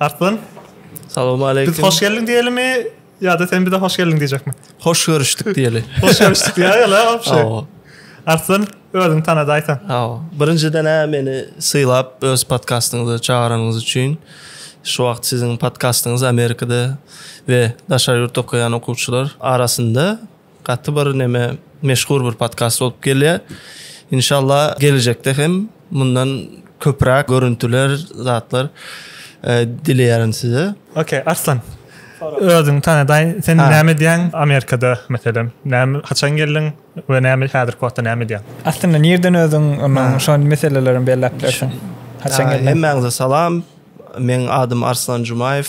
Arslan. Salowmaleýkim. Biz hoş geldiň diýelimi ýa-da sen bize hoş geldiň diýjekmi? Hoş görüşdik diýeli. hoş görüşdik diýä ýa-da wapşe. Arslan özüňi tanada aýsan. Hawa. Birinjiden hä meni sylap öz podkastyňyza çagyranyňyz üçin şu wagt siziň podkastyňyz Amerikada we daşary ýurtda okaýan okuwçylar arasynda Gaty bir neme meşhur bir podkast bolup gelýär. Inşallah gelejekde hem mundan köpräk görüntüler, zatlar dileýärin size. Ok, Arslan. Özüňi tanadaý. Sen näme edýäň Amerikada meselem? Näme, haçan geldiň we näme häzirki wagtda näme edýäň? Aslynda nireden özüň onuň şo meseleleri hem belläp bilersiň. Haçan geldiň? Hemmäňize salam. Meň adym Arslan Jumaýew.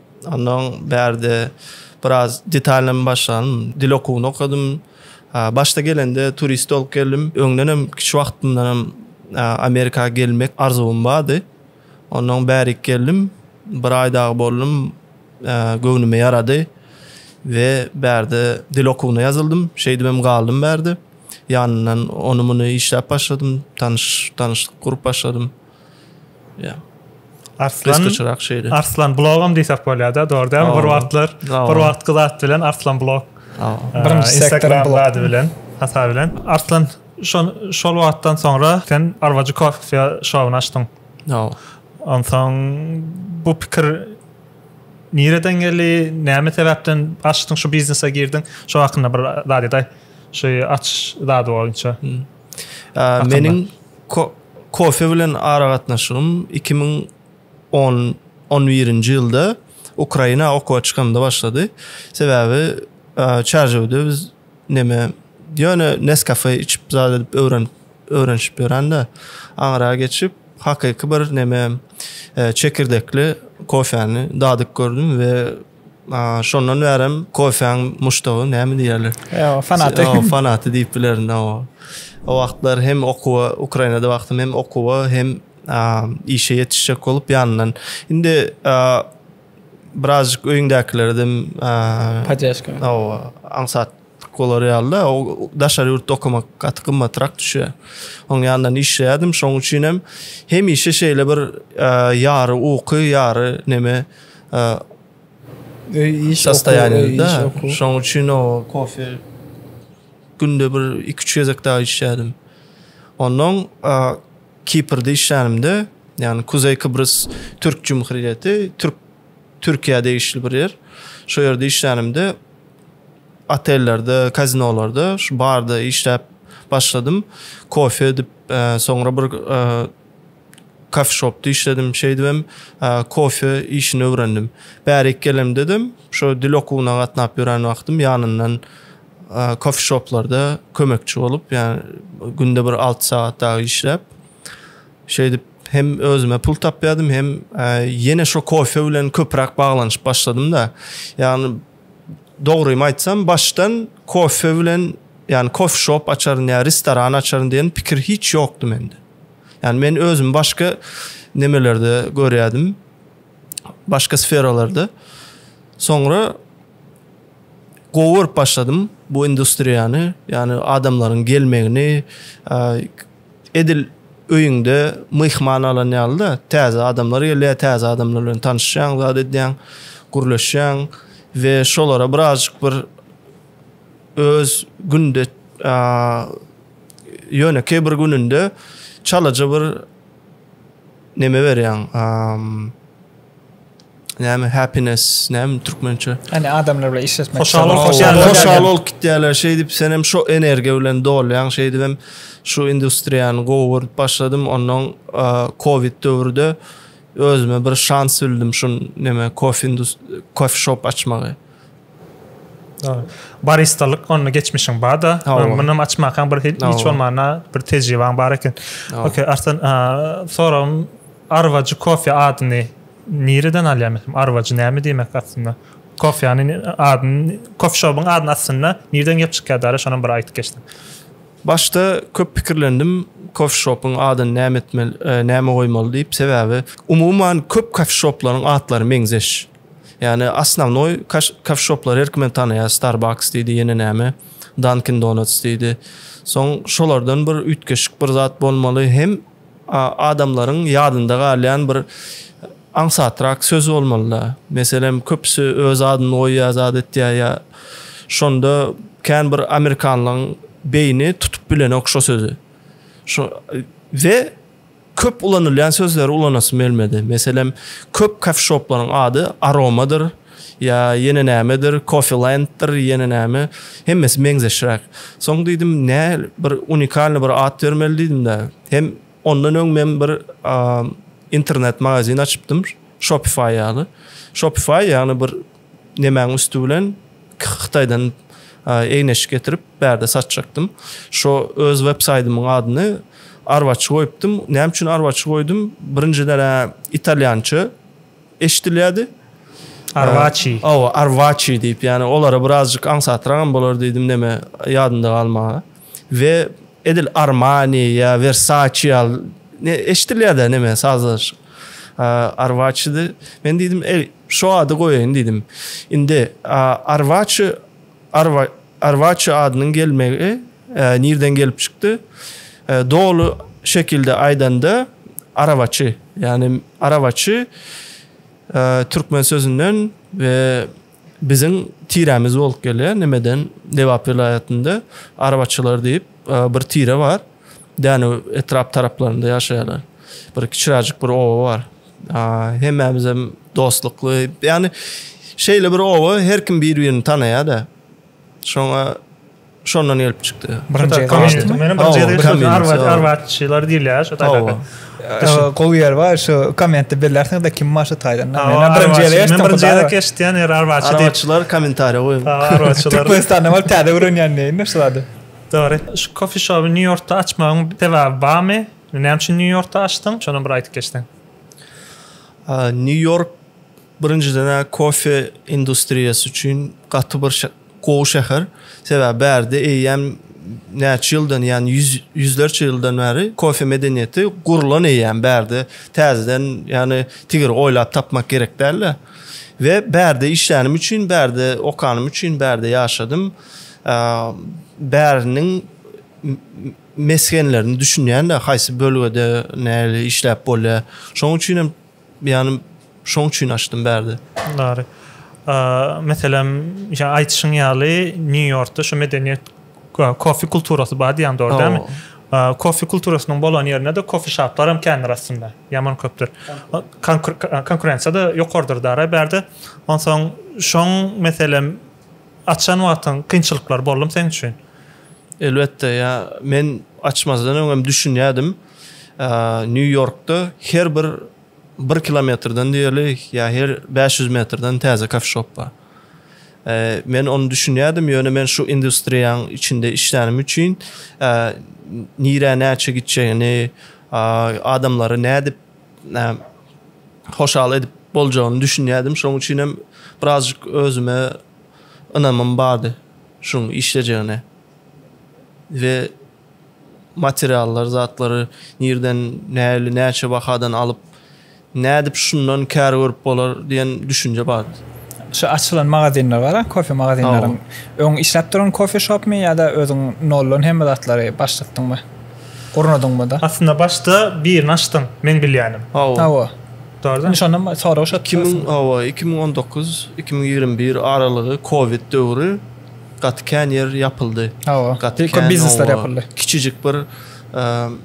Ondan bärde biraz detalnymy başladym. Dil okuwyny okadym. Başda gelende turist bolup geldim. Öňden hem kiçi wagtymdan hem Amerika gelmek arzuwym bardy. Ondan bärik geldim. Bir aý dagy boldum. Göwnüme ýarady. We bärde dil okuwyna ýazyldym. Şeýdip hem galdym bärde. Ýanyndan ony muny işläp başladym. Tanyş tanyşlyk gurup başladym. Yeah. Arslan, Arslan blogum diýsek bolýar-da, dogry däl? Bir wagtlar, bir wagt gyzat bilen Arslan blog. Birinji sektor blady bilen, hata bilen. Arslan, şol şol wagtdan soňra sen Arwajy Coffee şowuny açdyň. No. Onsoň bu pikir nireden geldi? Näme sebäpden açdyň şu biznese girdiň? Şo hakynda bir zat eday. Şu aç zady boýunça. Hmm. Meniň kofe bilen aragatnaşygym 2011-nji ýylda Ukraina okuwa çykamda başlady. Sebäbi Çarjewde biz neme ýöne Nescafe içip zat edip öwrenip öwrenişip ýörende aňra geçip hakyky bir neme çekirdekli kofäni dadyp gördüm we Şondan bärem kofäň muşdagy näme diýerler? Ýa, fanaty. Ýa, fanaty diýip bilerin. O wagtlar hem okuwa, Ukrainada wagtym hem okuwa, hem işe ýetişjek bolup ýanyndan. Indi birazjyk öýüňdäkilerden podýaşka. Hawa, aňsat. Tik bolar ýaly-da, daşary ýurtda okamak gaty gymmatrak düşýär. Onuň ýanyndan işleýärdim, şonuň üçin hem hemişe şeýle bir ýary uky, ýary neme öý iş sostaýanda, şonuň üçin o kofe günde bir iki-üç gezek dagy içýärdim. Ondan Kiprde işlänimde, ýagny Kuzeý Kybrys Türk Jumhuriýeti, Türk Türkiýä degişli bir ýer. Şo ýerde işlänimde otellerde, kazinolarda şu barda işläp başladym. Kofe edip, e, soňra bir e, kafe shopda işledim. Şeýdip hem e, kofe işini öwrendim. Bärik gelemde de şu dil okuwyna gatnap ýören wagtym ýanyndan kofe shoplarda kömekçi bolup, ýa günde bir alty sagat dagy işläp, Şeýdip, hem özüme pul tapýardym, hem ýene şo kofe bilen köpräk baglanyşyp başladym-da. Ýagny, dogrymy aýtsam, başdan kofe bilen, ýagny kofe shop açaryn ýa restoran açaryn diýen pikir hiç ýokdy mende. Ýagny men özümi başga nemelerde görýärdim. Başga sferalarda. Soňra gowy görüp başladym bu industriýany, ýagny adamlaryň gelmegini, edil öýüňde myhman alan ýaly-da, täze adamlar gelýär, täze adamlar bilen tanyşýaň, zat edýäň, gürleşýäň we şolara birazajyk bir öz günde ýönekeý bir gününde çalaja bir Neme berýäň amm näme happiness näme türkmençe. Hany adamlar bilen işleşmek. Hoşal bol hoşal bol. Hoşal bol kitýäler şeýdip sen hem şo energiýa bilen dolýaň şeýdip hem şu industriýany gowy görüp başladym onnoň covid döwürde özüme bir şans bildim şun neme kof indus kof şop açmagy. Baristalyk onda geçmişiň barda. Muny açmakaň bir hiç bolmanda bir tejribaň bar eken. Okey, Arslan, soram Arwajy kofe adyny nireden alýan? Arwajy näme diýmek aslynda? Kofeýany adyny, kofe şobyň adyny aslynda nireden gelip çykýar dara şonam bir aýdyp geçsen. Başda köp pikirlendim kofe şobyň adyny näme etmeli, näme goýmaly diýip. Sebäbi umuman köp kofe şoplaryň atlary meňzeş. Ýani osnovnoý kafişoplar her kim tanaýar Starbucks diýdi ýene näme Dunkin Donuts diýdi. Soň şolardan bir üýtgeşik bir zat bolmaly hem adamlaryň ýadynda galýan bir aňsatrak söz bolmalyda. Meselem köpüsi öz adyny goýýar zat etýär ýa şonda kän bir amerikanlaň beýni tutup bilenok şo sözi. Şo we Köp ulanylýan sözleri ulanasym gelmedi. Meselem, köp kofişoplaryň ady Aromadyr, ýa ýene nämedir, Kofilanddyr, ýene näme, hemmesi meňzeşräk. Soň diýdim, nä, bir unikalnyý bir at bermeli diýdim-de. Hem ondan öň men bir internet magazin açypdym, Shopify ýaly. Shopify, ýagny bir nemäň üsti bilen Hytaýdan egin-eşik getirip bärde satjakdym. Şo öz web saýtymyň adyny arwaçy goýupdym. Näme üçin arwaçy goýdum? Birinjiden-ä italýança eşidilýärdi. Arwaçi. Hawa, arwaçi diýip, ýani olara birazjyk aňsatragam bolar diýdim, neme ýadynda galmaga. We edil Armani ýa Versace ýaly eşidilýär-dä neme sazlaşyk. Arwaçydy. Men diýdim, "Eý, şu ady goýaýyn" diýdim. Indi Arwaçy Arwa Arwaçy adynyň gelmegi nirden gelip çykdy? Doly şekilde aýdanda, Arawaçy. Ýagny Arawaçy türkmen sözünden we Biziň tiremiz bolup gelýär. Nimeden? Lebap welaýatynda Arabaçylar diýip bir tire bar. Dänew etrap taraplarynda ýaşaýarlar. Bir kiçiräjik bir oba bar. Hemmämiz hem dostlukly. Ýagny şeýle bir oba her kim bir-birini tanaýar-da. Şoňa Şondan gelip çykdy. Birinji komünizm. Meniň birinji ýerde arwat arwatçylar diýilýär şu taýda. Gowy ýer bar şu kommentde bellärsiniz de kim başy taýdan. Men birinji ýerde men birinji ýerde keşdýän ýer arwatçy diýip. Arwatçylar kommentariýa goýuň. Arwatçylar. Türkmenistanda bar täze öwrenýän näme şu zady. Dogry. Şu kofe shopu New Yorkda açmagyň sebäbi barmy? Näme üçin New Yorkda açdyň? Şonu bir aýdyp geçseň. New York birinjiden kofe industriýasy üçin gaty bir Gowy şäher. Sebäbi bärde eýýäm näçe ýyldan, ýagny ýüz, ýüzlerçe ýyldan bäri kofe medeniýeti gurlan eýýäm. Bärde täzeden, ýagny tigir oýlap tapmak gerek däl-de. We bärde işlänim üçin, bärde okanym üçin, bärde ýaşadym. Bäriniň mesgenlerini düşünýän-de, haýsy bölgede nähili işläp bolýar. Şonuň üçin hem. Ýanym şoň üçin açdym bärde. Dary. Meselem, ýa aýtşyň ýaly New Yorkda şu medeniýet kofe kulturasy bar diýýän dogry dälmi? Kofe kulturasynyň bolan ýerinde-de kofe şaplar hem kändir aslynda. Ýaman köpdür. Konkurensiýa-da ýokardyr dary bärde. Onsoň şoň meselem açan wagtyň kynçylyklar boldumy seň üçin? Elbetde, ýa men açmazdan öňem düşünýärdim. Nýu-Ýorkda her bir bir kilometrden diýerlik, ýa her bäş ýüz metrden täze kofeşop bar. Men ony düşünýärdim, ýöne men şu industriýaň içinde işlänim üçin, nirä näçe gitjegini, adamlary nädip hoşal edip boljagyny düşünýärdim. Şonuň üçin hem birazjyk özüme ynamym bardy şuň işlejegine we materiallar zatlary nirden näli näçe bahadan alyp nädip şundan kär görüp bolar diýen düşünje bardy. Şu açylan magazinler bar a kofe magazinleriň öň işläp duran kofe shopmy ýada özüň noldan hemme zatlary başlatdyňmy gurnadyňmyda. Aslynda başda birini açdyň meň bilýänim. Hawa. Dogry da. Şondan soragy şo. Iki müň hawa iki müň on dokuz iki müň ýigrimi bir aralygy kowid döwri. gaty kän ýer ýapyldy. Hawa. Gaty kän biznesler ýapyldy. Kiçijik bir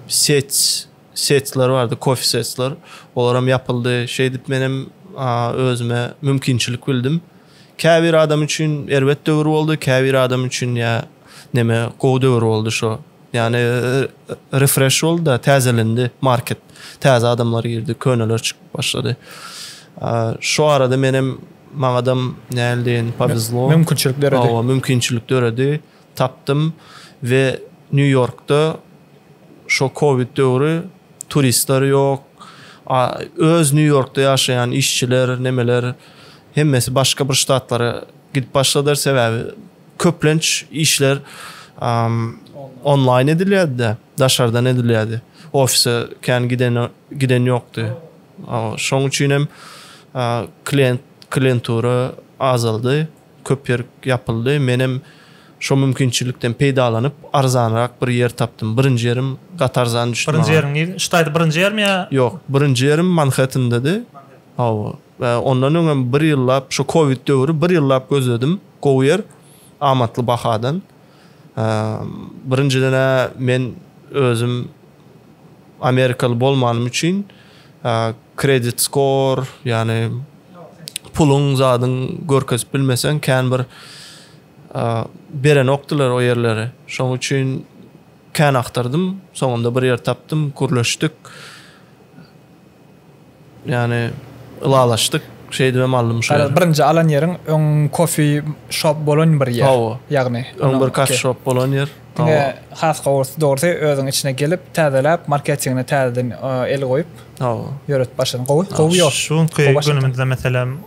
set setler bardy, kofe setler. Olar hem ýapyldy. Şeýdip men hem özüme mümkinçilik bildim. Käbir adam üçin erbet döwür boldy, käbir adam üçin ýa neme gowy döwür boldy şo. Yani e, refresh oldu da tazelendi market. Taze adamlar girdi, köneler çıkıp başladı. Şu arada menem Maňadam näl deýin powezlo. Mümkinçilik döredi. Hawa, mümkinçilik döredi. Tapdym we Nýu-Ýorkda şo covid döwri turistler ýok. A öz Nýu-Ýorkda ýaşaýan işçiler, nemeler hemmesi başga bir ştatlara gidip başladylar. Sebäbi köplenç işler onlaýn edilýärdi-de, daşardan edilýärdi. Ofise kän giden giden ýokdy. Şoň üçin hem klient klientura azaldy, köp ýer ýapyldy. Men hem şo mümkinçilikden peýdalanyp, arzanrak bir ýer tapdym. Birinji ýerim gaty arzan düşdi maňa. Birinji ýeriň nirede? Ştaýda birinji ýermi ýa? Ýok, birinji ýerim Manhettendady. Hawa. Ondan öň hem bir ýyllap, şu kowid döwri bir ýyllap gözledim gowy ýer, amatly bahadan. Birinjiden-ä men özüm amerikaly bolmanym üçin kredit skor, ýagny puluň zadyň görkezip bilmeseň kän bir berenokdylar o ýerleri. Şoň üçin kän agtardym. Soňunda bir ýer tapdym, gürleşdik. Ýani ylalaşdyk şeýdibem aldym şu ýeri. Garaz birinji alan ýeriň öň kofi şop bolan bir ýer. Hawa. Ýagny. Öň bir kafi şop bolan ýer. Diňe has gowusy dogrusy özüň içine gelip täzeläp marketingine täzeden el goýup. Hawa. Ýöretip başlasaň gowy. Gowy ýol. Şu günki günümizde meselem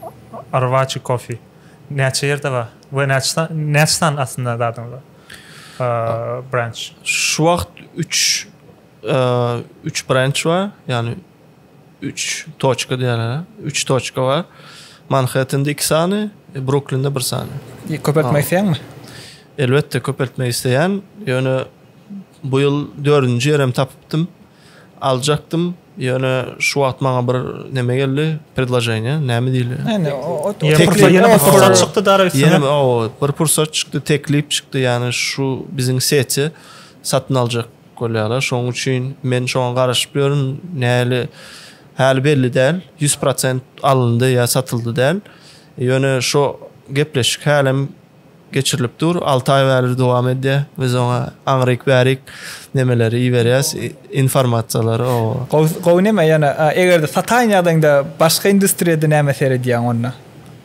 Arwaçi kofi näçe ýerde bar we näçe näçe sany aslynda zadyňyz bar? Branch. Şu wagt üç. üç branch bar, ýagny üç toçka diýýärler. Üç toçka bar. Manhettende iki sany, Bruklinde bir sany. Köpeltmek isleýäňmi? Elbetde köpeltmek isleýän. Ýöne bu ýyl dördünji ýerim tapypdym. Aljakdym. Ýöne şu wagt maňa bir näme geldi? Predloženiýe, näme diýilýär? Näme? Ýene bir pursat çykdy dara üstüne. Ýene bir pursat çykdy, teklip çykdy, ýagny şu biziň seti satyn aljak. Bolýarlar şoň üçin men şoňa garaşyp ýörün näli häli belli däl ýüz prosent alyndy ýa satyldy däl ýöne şo gepleşik hälem geçirilip dur alty aý bäri dowam edýär biz oňa aňryk bärik nemeleri iberýäs informasiýalary oba. Gowy neme ýöne egerde sataýyn ýagdaýyňda başga industriýada näme seredýäň onda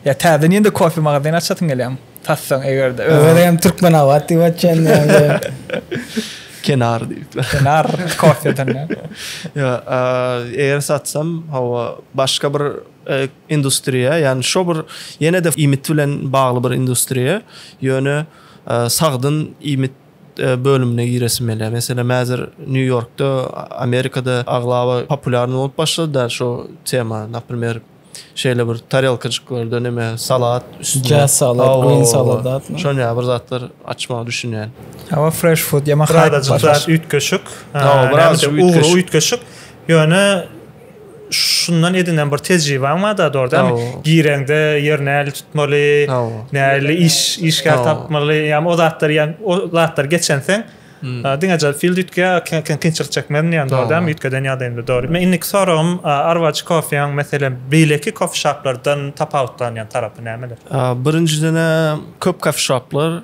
ýa täzeden ýene kofe magazyny açasyň gelýämi. Tassaň eger-de. Öňe hem Türkmenabat diýip açýan. Kenar diýip. Kenar kofeden. Ýa, eger satsam, hawa, başga bir e, industriýa, ýagny şo bir ýene-de iýmit bilen bagly bir industriýa, ýöne e, sagdyn iýmit e, bölümine giresim gelýär. Meselem, häzir Nýu-Ýorkda, Amerikada aglaba populýarny bolup başlady da şo tema, naprimýer, şeýle bir tarelkajyklarda näme salat üstüne Jazz salad, Hawa, green hawa, salad hawa. atma. Şon ýaly bir zatlar açmagy düşünýän. Ama fresh food ýa mahaýyt Birazajyk bar. zat üýtgeşik. Ee, Hawa, näme birazajyk diýip, ugry üýtgeşik. üýtgeşik. Ýöne şundan edinen bir tejribaň barda dogry dämi? Hawa. Gireňde ýer näli tutmaly, Hawa. näli iş işgär Hawa. tapmaly, ýa o zatlar ýa o zatlar geçenseň Diňe Jaz Field üýtge kynçylyk çekmezin diýýän dogry däl mi? Üýtgeden ýagdaýynda dogry. Men indiki soragym Arwacı Coffeeň meselem beýleki kofe şaplardan tapawutlanýan tarapy nämeler? Birinjidene köp kofe şaplar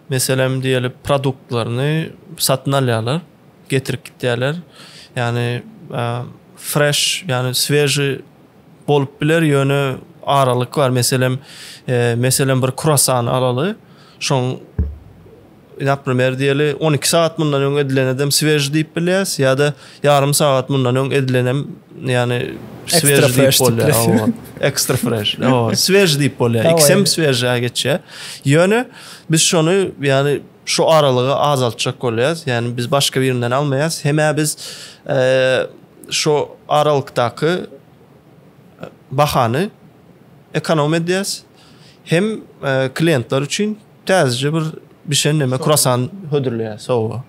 meselem diýeli produktlaryny satyn alýarlar, getirip gitýärler. Ýagny fresh ýagny sweži bolup biler ýöne aralyk bar meselem meselem bir kruasany alaly şoň Naprimýr diýeli, on iki sagat mundan öň edilenedem swejý diýip bilýäs, ýa-da ýarym sagat mundan öň edilenem, ýagny swejý diýip bolýar. Hawa, ekstra fresh. Hawa, swejý diýip bolýar. Ikisem swejý-ä geçýär. Ýöne biz şony, ýagny şu aralygy azaltjak bolýarys. Ýagny biz başga birinden almaýarys. Hem-ä biz şu aralykdaky bahany ekonom edýäris. Hem kliýentler üçin Täzeje bir bişen neme kruassan hödürleýär sowuga.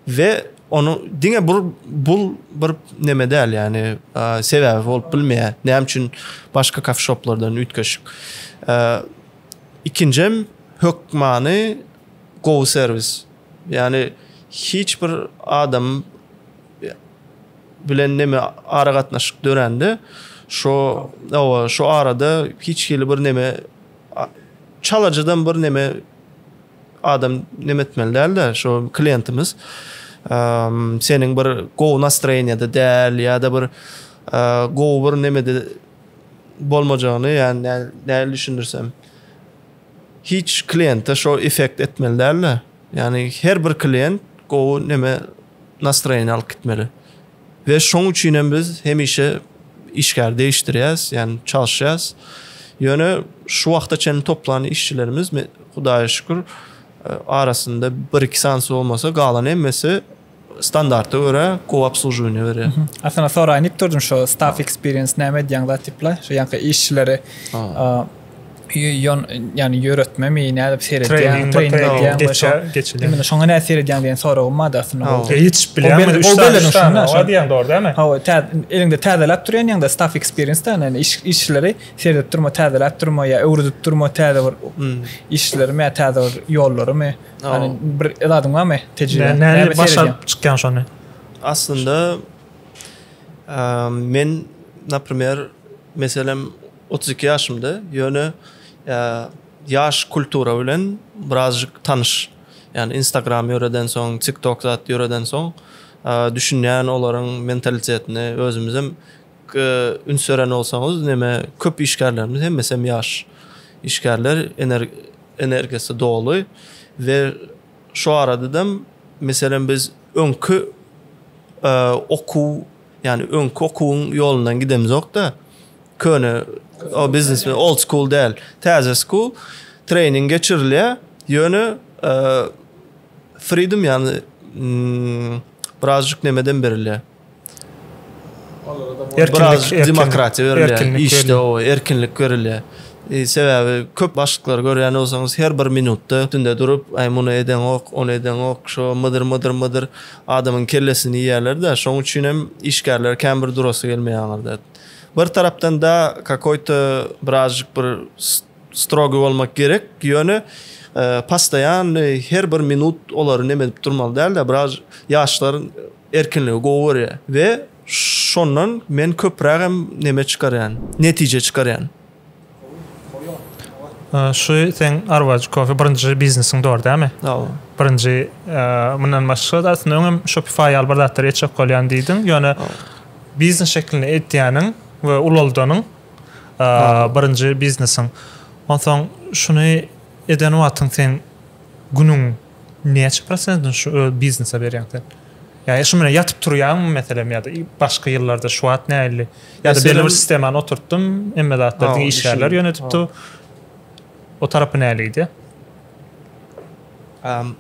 Ve onu diňe bir bul bir neme däl ýani sebäbi bolup bilmeýär. Näme üçin başga kafe shoplardan üýtgeşik. Ikinjem hökmany gowy servis. Ýani hiç bir adam bilen neme ara gatnaşyk dörände şo owa şo arada hiç hili bir neme Çalajydan bir neme adam neme etmeli dälde şu klientimiz seniň bir gowy nastroýeniýada däl ýa-da bir gowy bir nemede bolmajagyny ýa-ni nähili düşündirsem hiç kliente şo effekt etmeli dälde ýa-ni her bir klient gowy neme nastroýeniýa alyp gitmeli. We şoň üçin hem biz hemişe işgär değiştirýäs, ýagny çalyşýas. Ýöne şu wagta çenli toplan işçilerimiz Hudaýa şükür arasynda bir iki sanysy bolmasa galan hemmesi standarta görä gowy obsluživanje berýär. Aslynda soraýyn diýip durdum şu staff experience näme edýäň zat diýip la şu ýanky işçileri ýon ýany ýöretme mi nädip seredýäň treýning edýäň geçä geçilýär imine şoňa nädip seredýäň diýen soragyň bar da aslynda ol ýetişip bilýärmi üç sany üç sany şoňa diýen dogry dälmi hawa eliňde täzeläp durýan ýaňda staff experience da ýani iş işleri seredip durma täzeläp durma ýa öwredip durma täze bir işlerimi ýa täze bir ýollarymy ýani bir zadyň barmy tejribe nädip başaryp çykýaň şony aslynda men naprimer meselem Otuz iki ýaşymda, ýöne ýaş kultura bilen birazjyk tanyş. Ýani Instagram ýöredensoň, TikTok zat ýöredensoň, düşünýän olaryň mentalitetine, özümizem üns beren bolsaňyz, näme köp işgärlerimiz hemmesem ýaş işgärler, energiýasy doly we şu aradadam meselem biz öňki okuw, ýani öňki okuwyň ýolundan gidemizokda, Köne o biznes we old school däl. Täze school training geçirilýär. Ýöne e, freedom ýany mm, birazjyk nemeden berilýär. Biraz demokratiýa berilýär. Işde o erkinlik berilýär. E, sebäbi köp başlyklary görýän bolsaňyz her bir minutda üstünde durup, aý muny eden ok, ony eden ok, şo mydyr mydyr mydyr adamyň kellesini ýerler-de, şoň üçin hem işgärler kän bir durasy gelmeýär aňyrda. Bir tarapdan da kakoýto birazjyk bir strogiý bolmak gerek, ýöne pastaýan her bir minut olary neme edip durmaly dälde, biraz ýaşlar erkinligi gowy görýär we şondan men köprägem neme çykarýan, netije çykarýan. Şu sen Arwaj Coffee birinji biznesiň dor dämi? Hawa. Birinji mundan başga da aslynda öňem Shopify ýaly bir zatlar etjek bolýan diýdiň. Ýöne biznes şeklinde etýäniň we ulaldanyň birinji biznesiň. Onsoň şuny eden wagtyň sen günüň Näçe prosentini şu öz biznese berýäň sen? Ýa şu bilen ýatyp turýaňmy meselem ýa-da başga ýyllarda şu wagt nähili? Ýa-da belli bir sistemany oturtdym, hemme zatlar diňe işgärler ýönedip dur. O tarapy nähilidi? Um,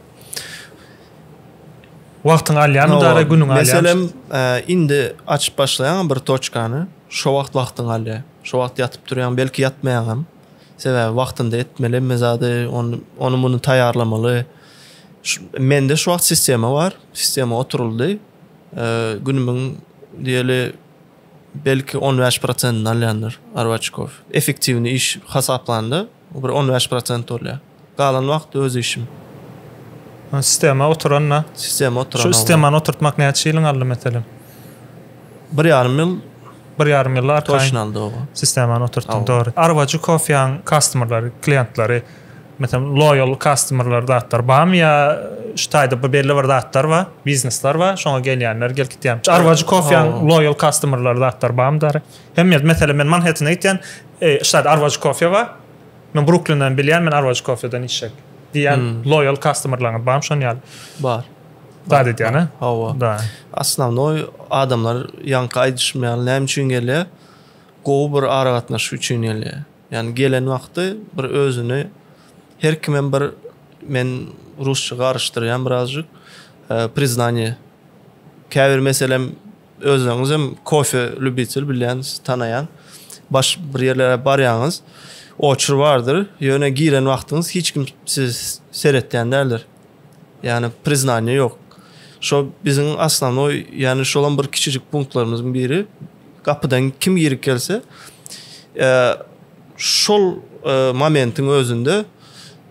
Wagtyň alýamy dara günüň alýamy? Meselem, e, indi açyp başlaýan bir toçkany, şo wagt wagtyň alýar. Şo wagt ýatyp durýan, belki ýatmaýan hem. Sebäbi wagtynda etmeli hemme zady, ony, ony muny taýýarlamaly. Mende şu wagt sistema bar, sistema oturyldy. Günümiň diýeli belki 15 prosentini alýandyr arbaçkow. Effektiwni iş hasaplanda bir 15 prosent bolýar. Galan wagty öz işim. Ol sistema oturanda. Sistema oturanda. Şu sistemany oturtmak näçe ýylyň aldy meselem? Bir ýarym ýyl. Bir ýarym ýyl arkaýyn. Toşun aldy oba. Sistemany oturtdyň dogry. Arwaju kofeýaň kastomerleri, klientlary meselem loýal kastomerler zatlar barmy ýa şu taýda bir belli bir zatlar bar, biznesler bar, şoňa gelýänler gelip gitýär. Şu arwaju kofeýaň loýal kastomerleri zatlar barmy dary? Hemme ýerde meselem men Manhettene gitýän, şu taýda arwaju kofeý bar. Men Bruklinden bilýän, men Arwaj Kofeden içjek. Diýýän loýal kastomerlaryňyz barmy şon ýaly? Bar. Zat edýän, hä? Hawa. Da. Asnawnoý adamlar ýaňky aýdyşym ýaly näme üçin gelýär? Gowy bir aragatnaşyk üçin gelýär. Ýani gelen wagty bir özüni her kimem bir men rusça garyşdyrýan birazjyk priznanie käbir meselem Özüňizem kofe ljubitel bilýänsiz, tanaýan. Baş bir ýerlere barýaňyz, oçur bardyr, ýöne giren wagtyňyz hiç kim sizi seretýän däldir. Ýagny priznaniýe ýok. Şo biziň aslannoý, ýagny şolam bir kiçijik punktlarymyzyň biri. Gapydan kim girip gelse, şol momentiň özünde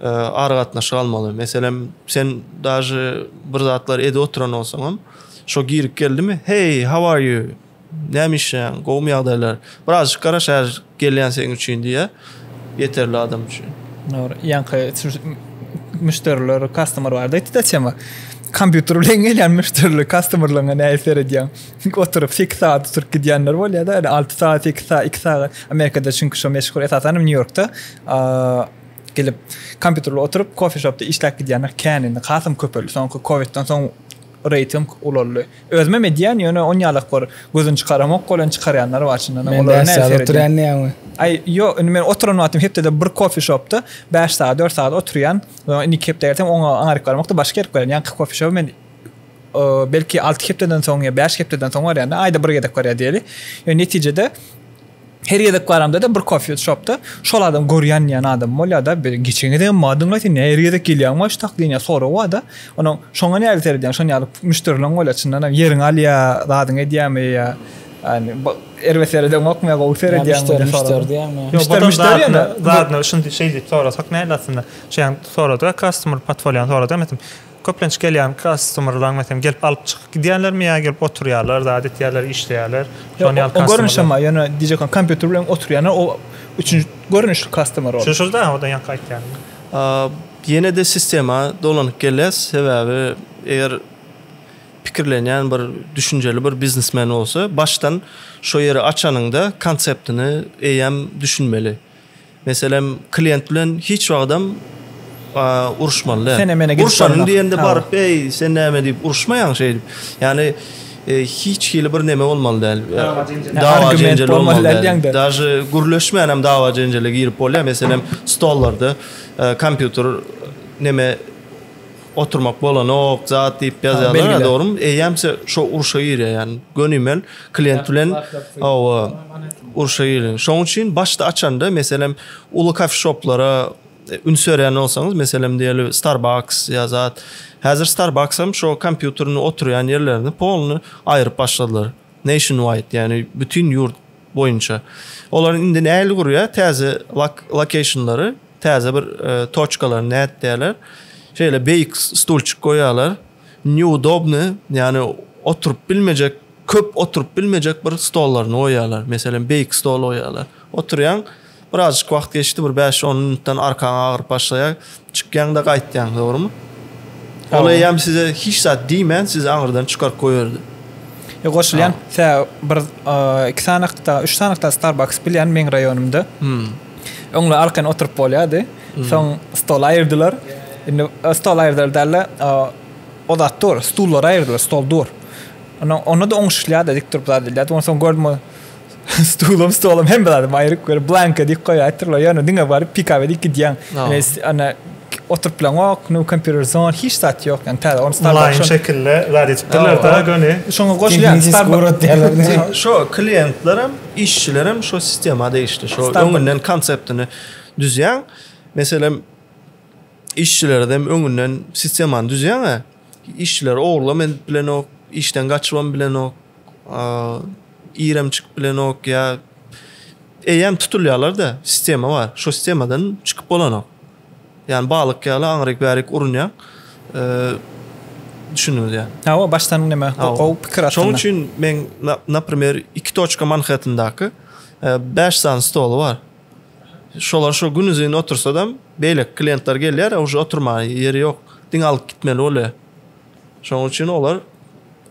e, aragatnaşyk almaly. Meselem, sen daže bir zatlar edip oturan bolsaňam, şo girip geldimi? Hey, how are you? Näme işleýäň? Gowumy ýagdaýlar? Birazjyk garaş, her gelýän seň üçin diýýär. Ýeterli adam üçin. Dogry. Ýaňky müşderiler, customer bardy. Ýetdi tema. Kompýuter bilen gelýän müşderiler, customerlaryň näme seredýän? Oturyp 8 saat oturyp gidýänler bolýar-da, 6 saat, 8 saat, 2 saat. Amerikada çünki şo meşhur esasan Nýu-Ýorkda gelip kompýuterle oturyp kofe shopda işläp gidýänler kän indi hasam köpeldi soňky kowidden soň reýting ulaldy özümem edýän ýöne on ýalak bar gözüni çykaramok bolýan çykarýanlar bar çyndan olar Ay yo indi men oturan wagtym hepdede bir kofe shopda 5 saat 4 saat oturýan indi iki hepde gelsem oňa aňaryk baramok da başga ýere barýan ýaňky kofe shop men belki alty hepdeden soň ýa bäş hepdeden soň barýan aýda bir gezek barýan diýeli ýöne netijede Her gezek baramda-da bir kofýa şopda şol adam görýän diýen adamym bolýar-da, bir geçen gezegem maňa diňle sen näme her gezek gelýäň başdak diýen ýaly sorag bar-da. Onuň şoňa nähili seredýäň, şonuň ýaly müşderileriň bolýar çyndanam ýeriňi alýar, zadyňy edýärmi ýa ýani erbet seredeňokmy ýa gowy seredýäňmi diýen sorag. Müşderi müşderi diýemizmi? Zadyna şeýdip sorasak nähili aslynda? Şeýdip sorady-da, customer portfoliony sorady. Köplenç gelýän kastomyrlaň meselem gelip alyp çykyp gidýänlermi ýa gelip oturýarlar zat etýärler işleýärler şon ýaly kastomyrlar. O görnüşem bar ýöne diýjekam kompýuter bilen oturýanlar o üçünji görnüşli kastomyr ol. Şuny da odan ýaňky aýtýanymy. Ýenede sistema dolanyp gelýäs sebäbi eger pikirlenýän bir düşünjeli bir biznesmen bolsa başdan şo ýeri açanyňda konseptini eýýäm düşünmeli. Meselem, klient bilen hiç wagtam uruşmaly däl. Sene mene gidip barma. diýende baryp, eý, sen näme diýip uruşmaýaň şeýdip. Ýani hiç hili bir neme bolmaly däl. Dawa jenjel bolmaly däl. Daže gürleşmän hem dawa jenjele girip bolýar. Meselem, stollarda kompýuter neme Oturmak bolanok zat diýip ýazýarlar dogrymy? Eýýäm şo urşa girýär ýany gönimel klient bilen hawa urşa girýär. Şoň üçin başda açanda meselem uly kafe shoplara üns berýän bolsaňyz meselem diýeli Starbucks ýa zat häzir Starbucks hem şo kompýuterini oturýan ýerlerini polny aýryp başladylar. Nationwide ýany bütin ýurt boýunça. Olaryň indi nägili gurýar, täze lokeýşnlary, täze bir e, toçkalary nätdýärler. Şeýle beýik stulçik goýýarlar. Neudobny, ýagny oturyp bilmejek, köp oturyp bilmejek bir stollaryny goýýarlar. Meselem, beýik stol goýýarlar. Oturýaň, Birazjyk wagt geçdi, bir bäş-on minutdan arkaň agyryp başlaýar. Çykýaň-da gaýtýaň, dogrumy? Ol eýýäm size hiç zat diýmän, sizi aňyrdan çykaryp goýberdi. Ýa, goşulýan. Tä bir iki sanakda, üç sanakda Starbucks bilýän meň raýonymda. Öňli-arkaýyn oturyp bolýardy. Soň stol aýyrdylar. Indi stol aýyrdylar däl-de, o zat dur, stullary aýyrdylar, stol dur. Onda-da oňşuşýardy, dik durup zat edýärdi. Onsoň gördüm, ol. Stulum, stolum hemme zadym aýryk görüp, blanka diýip goýaýtdyrlar. Ýöne diňe baryp pikaw edip gidýäň. Ýöne oturyp bileňok, no computer zone, hiç zat ýok. Ýöne täze ony Starbucks. Mulaýym şekilde zat edipdirler dä göni. Şoňa goşulýan Starbucks. Şo kliýentler hem, işçiler hem şo sistema degişli. Şo öňünden konseptini düzýäň. Meselem, işçilere hem öňünden sistemany düzýäň-ä. Işçileri ogurlam edip bilenok, işden gaçybam bilenok. iremçik bilenok ýa eýýäm tutulýarlar-da, sistema bar. Şo sistemadan çykyp bolanok. Ýani balyk ýaly aňryk-bärik urunýaň. Düşündiňiz ýa? Hawa, başdan näme, gowy pikir aslynda. Şonuň üçin men, naprimer, iki toçka Manhettendaky bäş sany stoly bar. Şolar şo günuzyn otursadam, beýleki kliýentler gelýär, a uje oturmaga ýeri ýok. Diňe alyp gitmeli bolýar. Şonuň üçin olar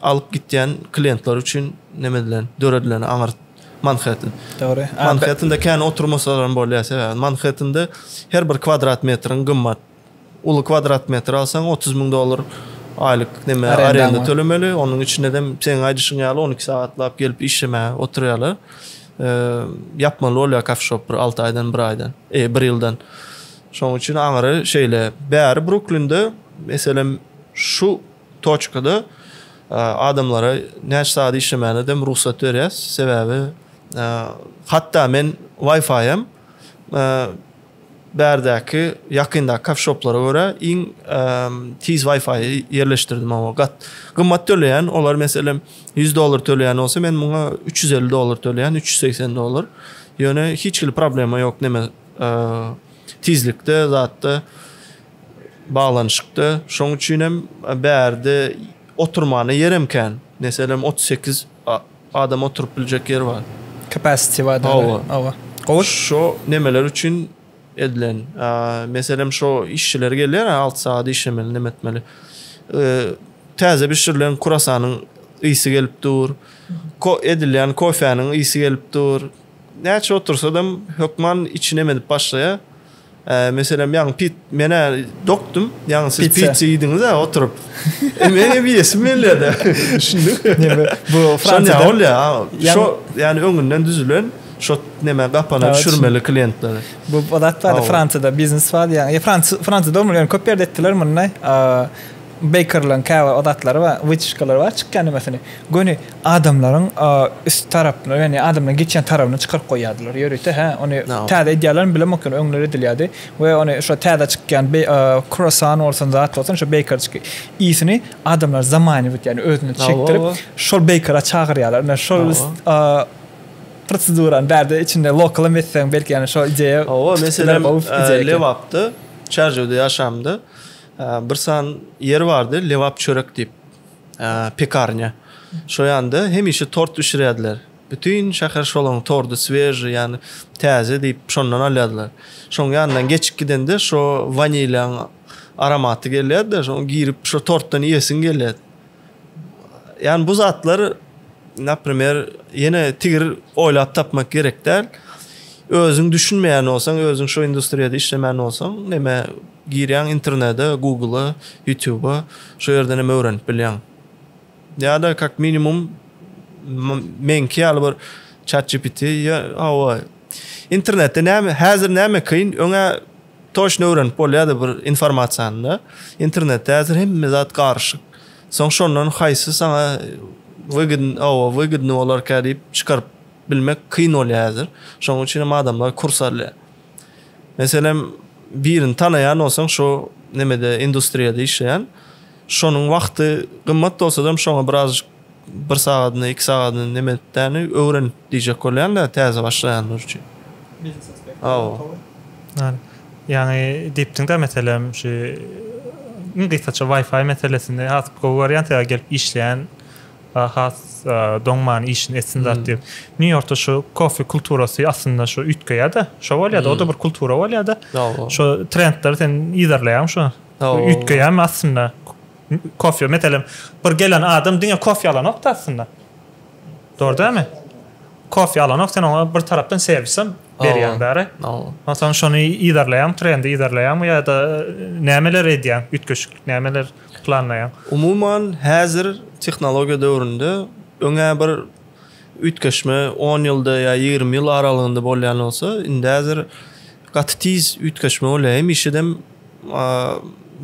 alyp gitýän kliýentler üçin neme edilen, döredilen aňyrt Manhattan. Dogry. Manhattanda kän oturmasalar hem bolýar sebäbi Manhattanda her bir kwadrat metriň gymmat. Uly kwadrat metr alsaň 30 müň dollar aýlyk neme arenda tölemeli. Onuň içinde hem seň aýdyşyň ýaly 12 sagatlap gelip işlemäge oturýarlar. Ýapmaly bolýar kafe shop bir 6 aýdan, 1 aýdan, e, 1 ýyldan. Şonuň üçin aňyry şeýle. Bäri Bruklinde meselem Şu toçkada adamlara näçe sagat işlemäne dem rugsat berýäs. Sebäbi hatda men Wi-Fi-ýam bärdäki ýakyndaky kafeşoplara görä iň tiz Wi-Fi-ýy ýerleşdirdim oňa. Gat gymmat töleýän olar meselem ýüz dollar töleýän bolsa men muňa üç ýüz elli dollar töleýän üç ýüz segsen dollar. Ýöne hiç hili problema ýok neme tizlikde zatda. baglanyşykda. Şonuň üçin hem bärde oturmana ýerem kän. Meselem, otuz sekiz adam oturyp biljek ýer bar. Capacity bar. Hawa. Hawa. Gowy. Şo nemeler üçin edilen. Meselem, şo işçiler gelýär, alty sagat işlemeli, neme etmeli. Täze bişirilen kurasanyň ysy gelip dur. Edilýän kofäniň ysy gelip dur. Näçe otursadam hökman içi neme edip başlaýar. Meselem, ýaňy pit, men-ä dokdum, ýaňy siz pitsa iýdiňiz-ä oturyp. Men hem iýesim gelýär-de. Düşündiňmi? Bu Fransiýada bolýa. Şo, ýagny öňünden düzülen, şo neme gapana düşürmeli klientlere. Bu zat bar-da, Fransiýada biznes bar, ýa Fransiýada bolmaly, ýöne köp ýerde etdiler muny. Beýkerlaryň käbir adatlary bar, wýtişkalary bar, çykýan nimäsini göni adamlaryň üst tarapyna, ýagny adamlaryň geçýän tarabyna çykaryp goýýardylar. Ýörite, hä, ony täze edýärlermi bilemok, ýöne öňler edilýärdi we ony şo täze çykýan kruasan bolsun, zat bolsun, şo beýkerçiki ýysyny adamlar zamaniwit, ýagny özüne çekdirip, şol beýkera çagyrýarlar. Ine, şol prosedurany bärde içinde lokalam etseň, belki, ýagny şo ideýa. Hawa, meselem, Lebapda, Çärjewde ýaşamda. Bir san ýer bardy, Lebap çörek diýip, pekarnýa. Şo ýanda hemişe tort bişirýärdiler. Bütin şäher şolaň tordy sveži, ýagny täze diýip, şondan alýardylar. Şoň ýanyndan geçip gidende şo wanilýaň aromaty gelýärdi, şoň girip şo tortdan iýesiň gelýärdi. Ýagny bu zatlar, naprimer, ýene tigir oýlap tapmak gerek däl. Özüň düşünmeýän bolsaň, özüň şo industriýada işlemän bolsaň, näme Girýäň internede Google-a, YouTube-a şo ýerden hem öwrenip bilýäň. Ýa-da kak minimum meňki ýaly bir Chat GPT ýa hawa internetde näme häzir näme kyn öňe toçno öwrenip bolýardy bir informasiýany da. Internetde häzir hemme zat garyşyk. Soň şondan haýsy saňa wygidn hawa wygidny bolarka diýip çykaryp bilmek kyn bolýar häzir. Şonuň üçin hem adamlar kurs alýar. Meselem, birini tanaýan bolsaň, şo nemede, industriýada işleýän, şonuň wagty gymmat bolsadam, şoňa birazajyk bir sagadyny, iki sagadyny neme etdäni öwrenip diýjek bolýan-da, täze başlaýanlar üçin. Biznes aspekti. Hawa. Ýaňy diýipdiň-dä, meselem, şu iň gysgaça Wi-Fi meselesini has gowy görýän, sebäbi gelip işleýän, Ahas doňman işini etsin zat diýip. Nýu Ýorkda şu kofe kulturasy aslynda şu üýtgeýär-de. Şo bolýar-da, o-da bir kultura bolýar-da. Şo trendleri sen yzarlaýaň şo. Üýtgeýärmi aslynda? Kofe, meselem, bir gelen adam diňe kofe alanok-da aslynda. Dogry dälmi? Kofe alanok, sen oňa bir tarapdan serwisem berýäň bäri. Onsoň şony yzarlaýaň, trendi yzarlaýaňmy ýa-da nämeler edýäň, üýtgeşiklik nämeler? planlaýar? Umuman, häzir tehnologiýa döwründe öňä bir üýtgeşme on ýylda ýa ýigrimi ýyl aralygynda bolýan bolsa, indi häzir gaty tiz üýtgeşme bolýar. Hemişedem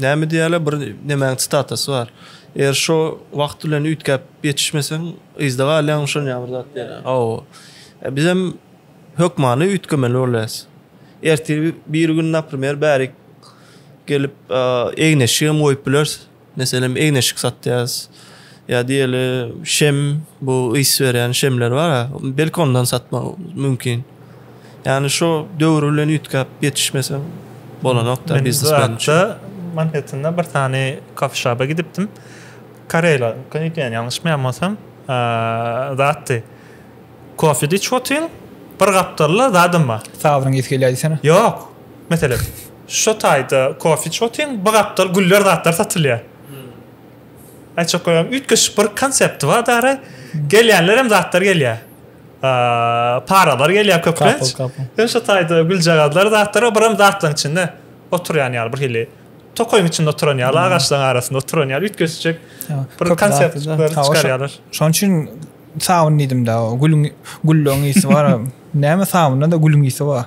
näme diýýärler, bir nemäň sitatasy bar. Eger şo wagt bilen üýtgäp ýetişmeseň, yzda galýaň, şonuň ýaly bir zat diýýärler. Hawa. Bizem hökmany üýtgemeli bolýarys. Ertir biri gün, naprimer, bärik gelip egneşigem goýup bileris. Meselem egneşik satýas. Ýa diýeli şem bu ys berýän şemler bar. Belki ondan satmak mümkin. Ýani şu döwür bilen üýtgäp ýetişmese bolanokda biznes bilen. Manhattanda bir sany kafe şaba gidipdim. Karela, könütýän ýalňyşmaýan bolsam, zatdy. Kofe diç otyň, bir gapdalda zadym bar. Sabyryň ýetip gelýär diýsene. Ýok. Meselem, şo taýda kofe içiotyryn, bir gapdal güller zatlar satylýar. Aýtjak bolýan, üýtgeşik bir konsepti bar dara. Gelýänler hem zatlar gelýär. Paralar gelýär köplenç. Hem şo taýda güljagazlar zatlar, bir hem zatlaryň içinde oturýan ýaly bir hili. Tokaýyň içinde oturan ýaly, agaçlaryň arasynda oturan ýaly üýtgeşik bir konsept çykarýarlar. Şonuň üçin sabyn diýdim-de, gülüň, güllüň ysy bar. Näme sabynda-da gülüň ysy bar.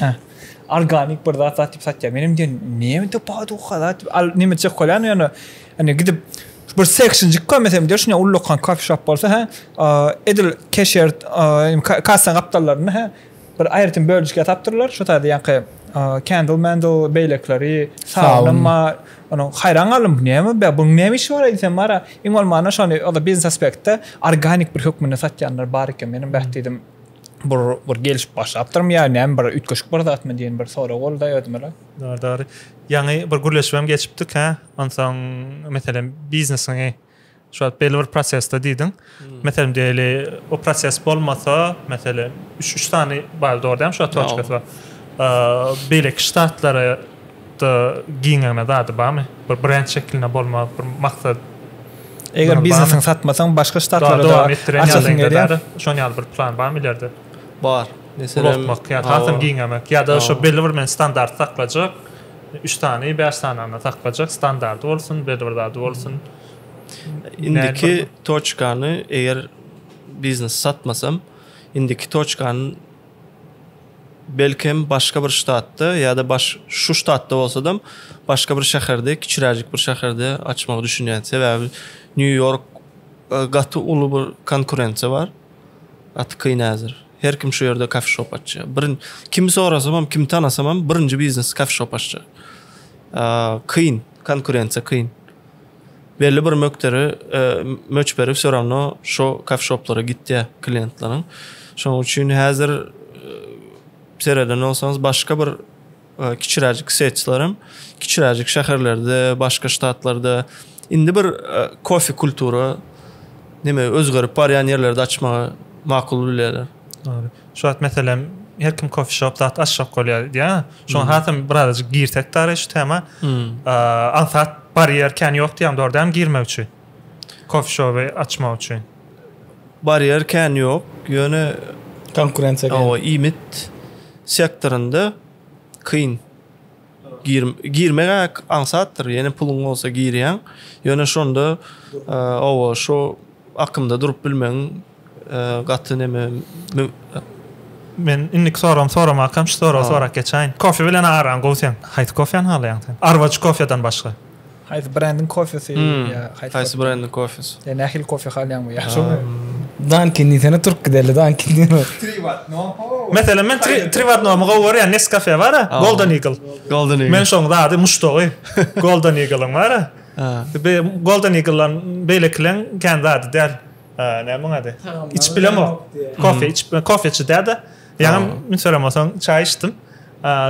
Hä. Organik bir zat zat diýip satýar. Menem diýen, näme diýip baha dukka zat diýip al näme çek golýan ýöne indi gidip bir sekşinjik görmesem diýer şuny ullakan kofe shop bolsa hä. Edil keşer kassa gapdallarynda hä. Bir aýratyn böljükler tapdyrlar şu taýda ýaňky kandle mandle beýlekileri sabun bar. Onuň haýran galdym bu näme be buň näme işi bar eýsem bara iň bolmanda şony biznes aspektde organik bir hökmünde satýanlar bar eken menem beh diýdim. Bur bir gelşip başlapdyrmy ýa näme bir üýtgeşik bir zatmy diýen bir sorag boldy özümele. Dogry dogry. Ýaňy bir gürleşibem geçipdik hä. Onsoň meselem biznesiňi şu wagt belli bir prosesde diýdiň. Meselem diýeli o proses bolmasa meselem üç üç sany bar dogry dämi şu wagt toçkasy bar. Beýleki ştatlara Ýurtda giňegine zady barmy? Bir brend şekilinde bolmaz, bir maksat. Eger biznesiňi satmasaň, başga ştatlara da açasyň gelýär. Şonuň ýaly bir plan barmy ilerde? Bar. Meselem, ulaltmak ýa hasam giňemek ýa-da şo belli bir men standart saklajak. Üç sany, bäş sany saklajak, standardy bolsun, belli bir zady bolsun. Indiki toçkany eger biznesi satmasam, indiki toçkany Belkem, başga bir ştatda ýa-da baş, şu ştatda bolsadam, başga bir şäherde, kiçiräjik bir şäherde açmagy düşünýän. Sebäbi Nýu-Ýork e, gaty uly bir konkurensiýa bar. Gaty kyn häzir. Her kim şu ýerde kafeşop açýar. Bir kimi sorasamam, kim tanasamam, birinji biznes kafeşop açýar. Kyn, konkurensiýa kyn. Belli bir mökderi möçberi wse rawno şo kafşoplara gitýä kliýentleriň. Şonuň üçin häzir sereden bolsaňyz başga bir kiçiräjik setçiler hem kiçiräjik şäherlerde, başga ştatlarda indi bir kofe kultura neme özgerip barýan ýerlerde açmagy makul bilýärler. Dogry. Şu wagt meselem her kim kofe shop zat açjak bolýar diýýär. Şoňa hmm. hasam birazajyk girsek dary şu tema. Hmm. Ansat barýer kän ýok diýýär, dogry dämi girmek üçin? Kofe shopu açmak üçin. Barýer kän ýok. Ýöne konkurensiýa. Awa, iýmit sektorynda kyn. Gir, girmek aňsatdyr. Ýene puluň bolsa girýäň. Ýöne şonda e, owa şu akymda durup bilmegiň e, gaty neme Men indiki soragymy soramak hem şu soragy sorap geçäýin. Kofe bilen araň gowy sen. Haýsy kofeni halaýaň sen? Arwacı kofedan başga. Haýsy brendiň kofesi ýa haýsy. Haýsy brendiň kofesi. Sen nähili kofe halýaň bu ýa şoňa. Dunkin diýsene türk giderli Dunkin diýme. Tri wat no ho. Meselem men tri tri wat no my gowy görýän nescafe bara golden eagle. Golden eagle. Men şoň zady muşdagy golden eagle-yň bara. Be golden eagle-dan beýlekileň kän zady däl. Näme oň ady. Içip bilemok. Kofe içip kofeçi däda. Ýa men soramosaň çaý içdim.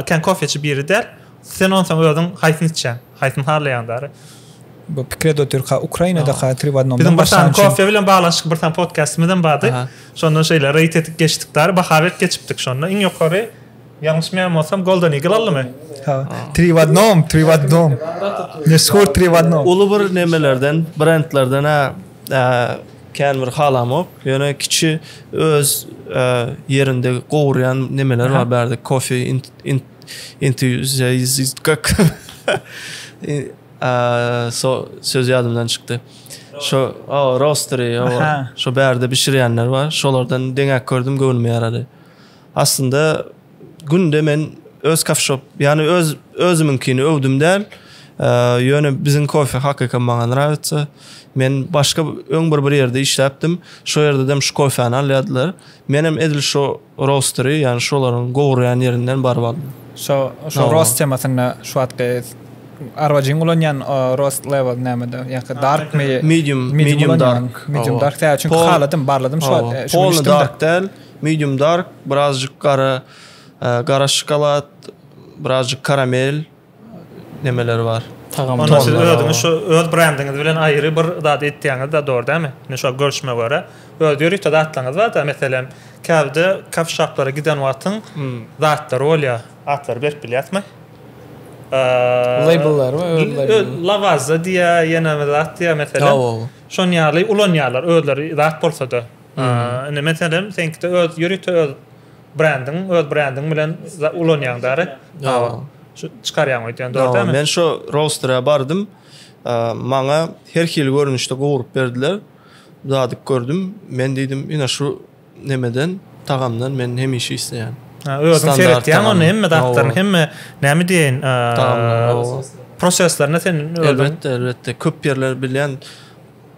Kän kofeçi biri däl. Sen onsoň özüň haýsyny içýäň. Haýsyny halaýaň dary? Bu pikire dotyrka Ukrainadaka tri w odnomdan Biziň bir sany kofe bilen baglanyşykly bir sany podkastymyzam bardy. Şonda şeýle reýd edip geçdik dary. Baha berip geçipdik şonda. Iň ýokary, ýalňyşmaýan bolsam, Golden Eagle aldymy? Ha. Tri w odnom, tri w odnom. Meşhur tri w odnom. Uly bir nemelerden, brendlerden-ä kän bir halamok. Ýöne kiçi öz ýerinde gowurýan nemeler bar bärde. Kofe, Entüziastkak. Aaa, so söz ýadymdan çykdy. Şo, o, roastery, o, şo bärde bişirýänler bar. Şolardan deňäk gördüm, göwnüme ýarady. Aslynda günde men öz kafşop, ýany öz özümiňkini öwdüm däl. Ýöne biziň kofe hakykam maňa nrawitsa. Men başga öň bir bir ýerde işläpdim. Şo ýerde dem şu kofäni alýardylar. Menem edil şo rostery ýani şolaryň gowurýan ýerinden baryp aldym. Şo şo rost temasynda şu wagtky arwajyň ulanýan rost level nämede ýa-ki dark my medium medium dark medium dark tä çünki haladym barladym şu wagt şu wagt dark däl medium dark birazjyk gara gara şokolad birazjyk karamel. nemeleri bar. Tagam. Onda siz özüňiz şu öz brendiňiz bilen aýry bir zat etýäňiz da dogry dämi? Men şo görüşme görä öz ýörite zatlaryňyz bar da meselem käbide kafe şaplara giden wagtyň zatlary bolýar atlary berip bilýäsmi? Labellar we özleri. Lavaza diýä ýene bir zat diýä meselem. Şon ýaly ulanýarlar özleri zat bolsa da. Indi meselem seňkide öz ýörite öz brendiň öz brendiň bilen ulanýaň däri şu çykarýaň öýdýän dogry men şu rosterä bardym maňa her hili görnüşde gowrup berdiler dadyp gördüm men diýdim ina şu nemeden tagamdan men hemişe isleýän ha özüň seretýäň ony hemme datlaryny hemme näme diýen proseslerine sen elbetde elbetde köp ýerler bilýän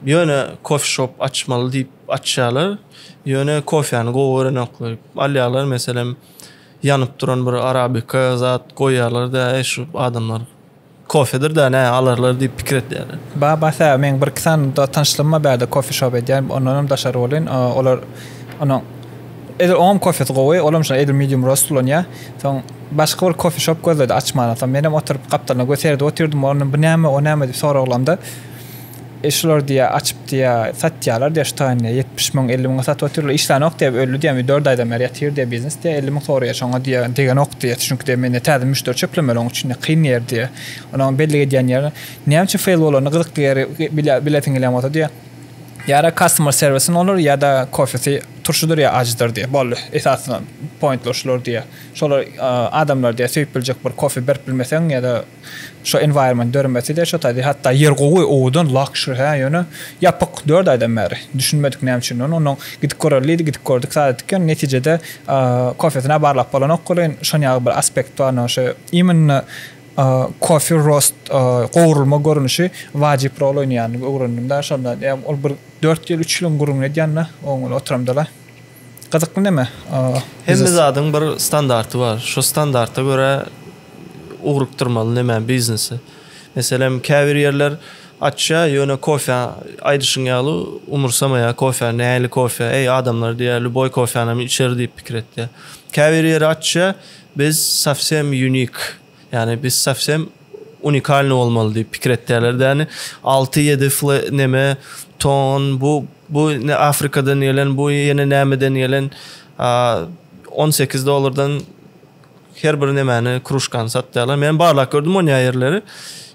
ýöne kofe shop açmaly diýip Açýarlar. Ýöne kofäni gowy görenoklar. Alýarlar, meselem, ýanyp duran bir arabika zat goýýarlar-da, äý şu adamlar kofedir-dä, nä alarlar diýip pikir edýärler. Babas äý, meň bir-iki sany tanyşlygym bar bärde kofeşop edýän, ondanam daşary welin, olar onuň edil oňam kofesi gowy, olam şonda edil medium roast ulanýar. Soň başga bir kofeşop gözledi açmana. Soň menem oturyp gapdalyna göz seredip otyrdym, ondan bu näme, o näme diýip soraglamda, E şular diýýär, açyp diýýär, satýarlar diýýär, şu taýyn diýýär, ýetmiş müň, elli müňe satyp otyrlar, işlänok diýýär, öldi diýýär, indi dört aýdan bäri ýatyr diýýär, biznes diýýär, elli müň soraýar, şoňa diýýär, degenok diýýär, çünki diýýär, mende täze müşderi çöplemeli, onuň üçin diýýär, kyn ýer diýýär. Onuň bellik edýän ýeri, näme üçin feýl bolanyny, gyzykly ýeri bilýär, bilesiň gelýän bolsa diýýär, ýa-da customer service-iň olur, ýa-da kofesi turşudyr ýa ajydyr diýýär, boldy, esasy pointler şular diýýär, şolar adamlar diýýär, söýüp biljek bir kofe berip bilmeseň ýa-da. Şo environment döremeside şo taýda hatda ýer gowy owadan lakşr hä ýöne ýapyk dört aýdan bäri düşünmedik näme üçin ony onnoň gidip göreli diýdi gidip gördük sat etdik ýöne netijede kofesine barlap bolanok welin şon ýaly bir aspekt bar no şe imенно kofe roast gowrulma görnüşi wajyp rol oýnaýandygy öwrendim da şonda ol bir dört ýyl üç ýylyň gürrüňini edýän da oň bilen oturamdala. Gyzykly neme? Hemme zadyň bir standarty bar. Şo standarta görä ugrukdyrmaly neme biznesi. Meselem, käbir ýerler açýa, ýöne kofä aýdyşyň ýaly umursamaýa kofä nähili kofä, eý adamlar diýýä lýuboý kofänam içer diýip pikir etýä. Käbir ýeri açýa, biz sowsem unique. Ýani biz sowsem unikalny bolmaly diýip pikir etýärler däni. Alty ýedi fl neme ton bu bu ne Afrikadan gelen bu ýene nämeden gelen a, on sekiz dollardan her bir nemäni kruşkany satýarlar. Men barlak gördüm onýa ýerleri.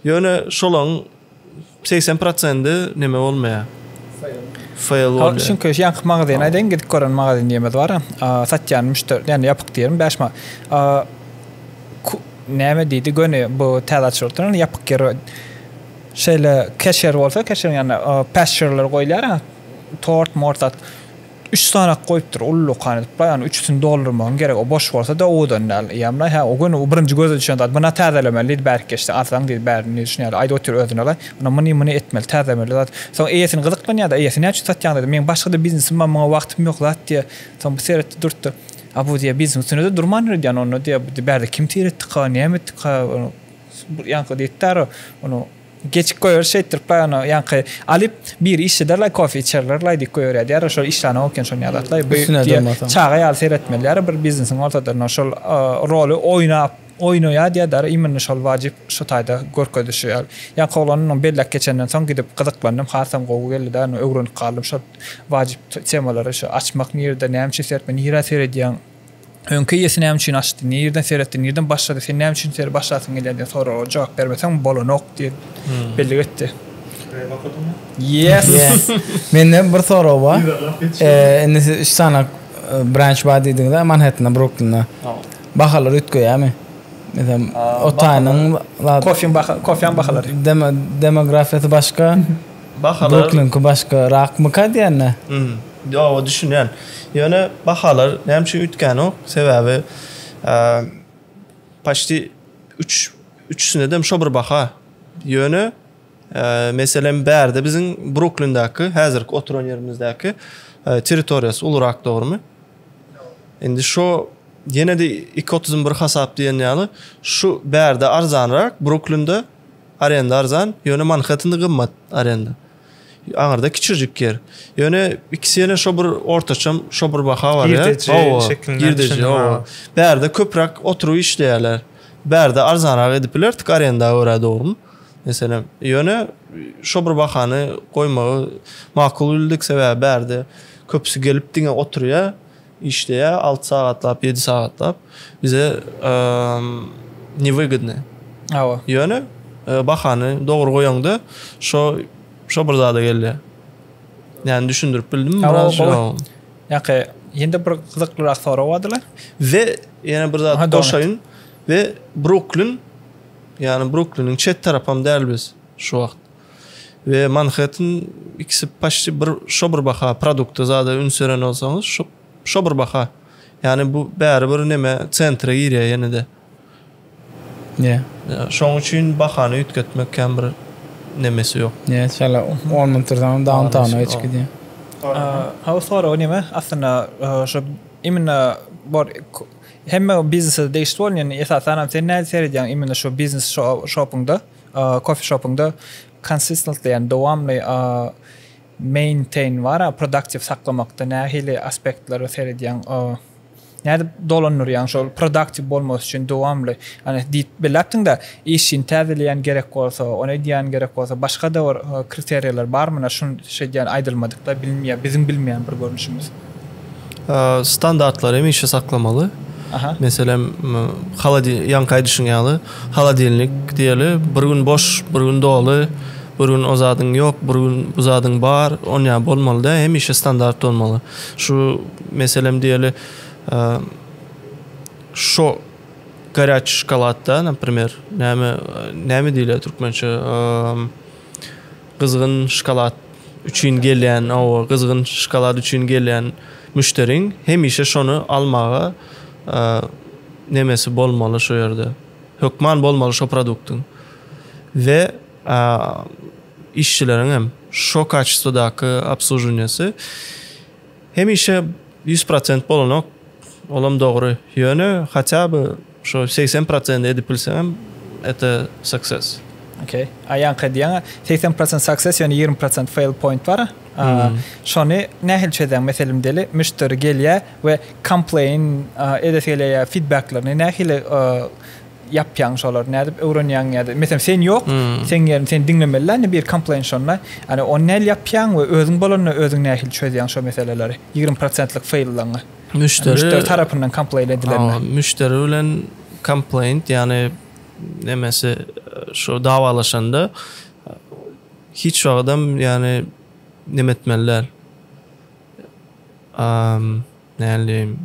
Ýöne şolaň 80 prosendi neme bolmaýar. Fail bolýar. Hal şuň köş ýanky magazyny aýdaýyn gidip gören magazyn diýmez bar. Satýan müşder ýani ýapyk diýerin 5 ma. Näme diýdi göni bu täze açylyp oturan ýapyk ýer. Şeýle keşer bolsa keşer ýani pasture goýulýar. Tort mort zat. Üç sanak goýupdyr uly lukan edip la ýany üçüsini doldurmagyň geregi o boş bolsa da owadan däl eýýäm la hä o gün o birinji göze düşen zat buna täzelemeli diýdi bärki geçse arzaň diýdi bärini diýdi şuny ýaly aýdyp otyr özüne la ynha muny muny etmeli täzemeli zat soň eýesini gyzyklanýar da eýesi näçe satýaň diýdi meň başga da biznesim bar muňa wagtym ýok zat diýýär soň bu seretdi durtdy a bu diýýär biznesiniň üstünde de durman ýöredýän onda diýýär bu bärde kim seretdika näme etdika ýaňky diýdi däri ony. Geçip goýarys şeýtdiripler ony ýaňky alyp biri işlederlaý kofe içerlerlaý diýip goýberýärdi ýara şol işlanyň okýan şony ýazatlaý bu diýip çaga ýaly seretmeli ýara bir biznesiň ortadyrna şol roly oýnap oýnaýa diýýä dara immini şol wajyp şu taýda görkezişi ýaly ýaňky oglan onuň bellek geçenden soň gidip gyzyklandym hasam gowy geldida ony öwrenip galdym şol wajyp temalary şu açmak nirede näme üçin seretmeli nirä seredýäň. Öňki eýesi näme üçin açdy, nireden seretdi, nireden başlady, sen näme üçin seri başlasyň gelýär diýen soraga jogap bermeseň bolanok diýip bellik etdi. Yes. Mende bir sorag bar. Indi siz üç sany branch bar diýdiňiz-ä Manhettende, Bruklinde. Bahalar üýtgeýärmi? Meselem, Otanyň, Kofeň bahalary. Demografiýasy başga. Bahalar Doklinki başga rakmyka diýende? Hm. Ýoga düşünýän. Ýöne bahalar näme üçin üýtgänok? Sebäbi paçti üç üçüsindedem şo bir baha. Ýöne meselem bärde biziň Bruklindäki häzirki oturan ýerimizdäki territoriýasy ulurak dogrymy? Indi şo ýene-de iki otuz bir hasap diýen ýaly şu bärde arzanrak Bruklinde Arenda arzan, ýöne Manhettende gymmat arenda. Aňyrda kiçijik ýer. Ýöne ikisi ýene şo bir ortaçam şo bir baha bar ýa. Girdeji şekilinde. Girdeji hawa. Bärde köpräk oturyp işleýärler. Bärde arzanrak edip biler tik arenda görä dogrymy? Meselem, ýöne şo bir bahany goýmagy makul bildik sebäbi bärde köpüsi gelip diňe oturýar. işleýä alty sagatlap ýedi sagatlap bize ne wygydny hawa ýöne bahany dogry goýaňda şo şo bir zada gelýä ýani düşündirip bildimmi biraz şo ýaky ýene-de bir gyzyklyrak sorag bardyla we ýene bir zat goşaýyn we bruklin ýani brukliniň çet tarapam däl biz şu wagt. we Manhattan ikisi paçti bir şo bir baha produkta zada üns beren bolsaňyz şo şo bir baha ýani bu bäri bir neme centre girýär ýenede ýe şoň üçin bahany üýtgetmek kän bir nemesi ýok ýe şeýle on mün tursaň downtowna geçip gidýär ha soragy neme aslynda şo imенно bor hemme biznese degişli bolýan esasanam sen nädip seredýäň imенно şo biznes şo şopyňda Kofişopyňda consistently ýagny dowamly maintain bar-a, produktiw saklamakda nähili aspektlere seredýäň? Nädip dolandyrýaň şol produktiw bolmasy üçin dowamly? Ýagny diýip belläpdiň-de, işini täzeleýän gerek bolsa, ony edýän gerek bolsa, başga-da bir kriteriýalar barmy? Şuny şeýdýän aýdylmadyk-da, biziň bilmeýän bir görnüşimiz. standartlary hemişe saklamaly. Aha. Meselem, haladi ýaňky aýdyşyň ýaly, haladilnik diýeli, bir gün boş, bir gün doly, bir gün o zadyň ýok, bir gün bu zadyň bar, on ýa bolmaly da, hemişe standart bolmaly. Şu meselem diýeli, şo garýaç şokoladda, naprimer, näme, näme diýilýär türkmençe? Gyzgyn şokolad üçin gelýän, hawa, gyzgyn şokolad üçin gelýän müşderiň hemişe şony almaga nemesi bolmaly şu ýerde. Hökman bolmaly şo produktyň. We işçileriň hem şo kaçestwadaky obsluženiýasy. Hemişe ýüz prosent bolanok, olam dogry, ýöne haça by şo segsen prosent edip bilseňem ete success. Ok, a ýaňky diýen segsen prosent success ýöne ýigrimi prosent fail point bar, a şony nähili çözýäň meselem deli müşderi gelýä we complain edesi gelýä ýa feedbacklerini nähili yapýaň şolar nädip öwrenýäň ýa-da meselem sen ýok hmm. sen ýerini sen diňlemeli ýa-da bir komplaýn şonda ýa-da ony näl ýapýaň we özüň bolanda özüň nähili çözýäň şo meseleleri 20% faýllaňy müşderi müşderi tarapyndan komplaýn edilende müşderi bilen komplaýn ýa-da nemesi şo dawalaşanda hiç wagtdan ýa-da nemetmeliler nälim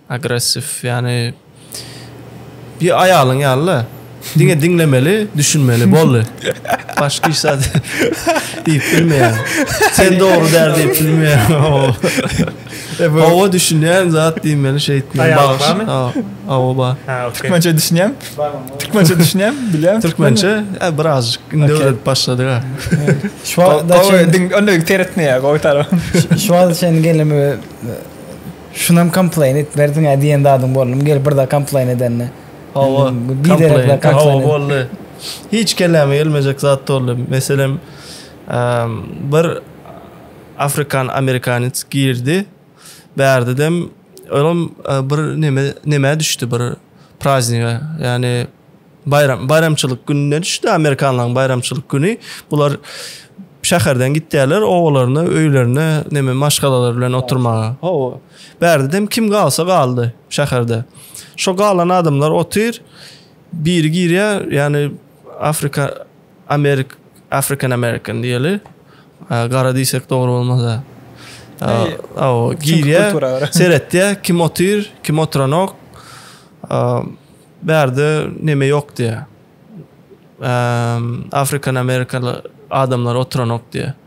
agressiw ýany bir aýalyň ýaly-da diňe diňlemeli düşünmeli boldy başga hiç zat diýip bilmeýär sen dogry däl diýip bilmeýär hawa düşünýän zat diýmeli şeýtmeli aýalyň barmy hawa bar türkmençe düşünýän. Türkmençe düşünýän, bilýän. Türkmençe e, birazcık indi okay. öwredip başladyk ha. Şu wagtda çyn onda seretmeýär o tarap. Şu wagtda çyn gelimi e, şunam komplain et berdiň ha diýen zadyň boldum. Gel bir da komplain edende. Hawa, komplain. Hawa boldy. Hiç kelime gelmejek zat boldy. Meselem, bir Afrikan Amerikanets girdi. Bärdidem olam bir neme neme düşdi bir prazniga yani bayram bayramçylyk gününe düşdi amerikanlaryň bayramçylyk güni bular şäherden gitýärler obalaryna öýlerine neme maşgalalar bilen oturmaga hawa bärdidem kim galsa galdy şäherde şo galan adamlar otyr biri girýär yani afrika Amerik African American diýeli. Gara diýsek dogry bolmaz-a. Aw, girýä, seretýä, kim otyr, kim oturanok. Bärde neme ýok diýä. African American adamlar oturanok diýä.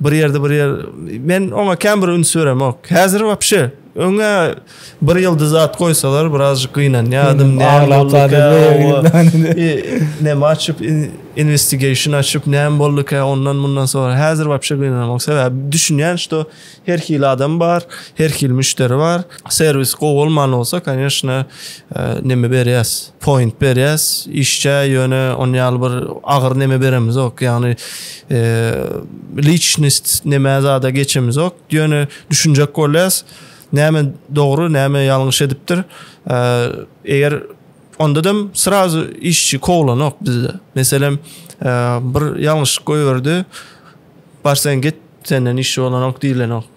Bir ýerde bir ýer men oňa kän bir üns beremok. Häzir wapşe öňe bir ýyldyz at goýsalar birazjyk gynanýardym. Näme açyp investigation açyp näme boldukä ondan mundan soň häzir wapşe gynanamok. Sebäbi düşünýän şo her hili adam bar, her hili müşderi bar. serwis gowy bolman bolsa kanyeshna neme berýäs point berýäs işçä ýöne on ýaly bir agyr neme beremizok ýagny liçnist neme zada geçemizok ýöne düşünjek bolýas näme dogry näme ýalňyş edipdir eger onda da srazu işçi kowlanok bizde meselem bir ýalňyşlyk goýberdi bar sen git senden işçi bolanok diýlenok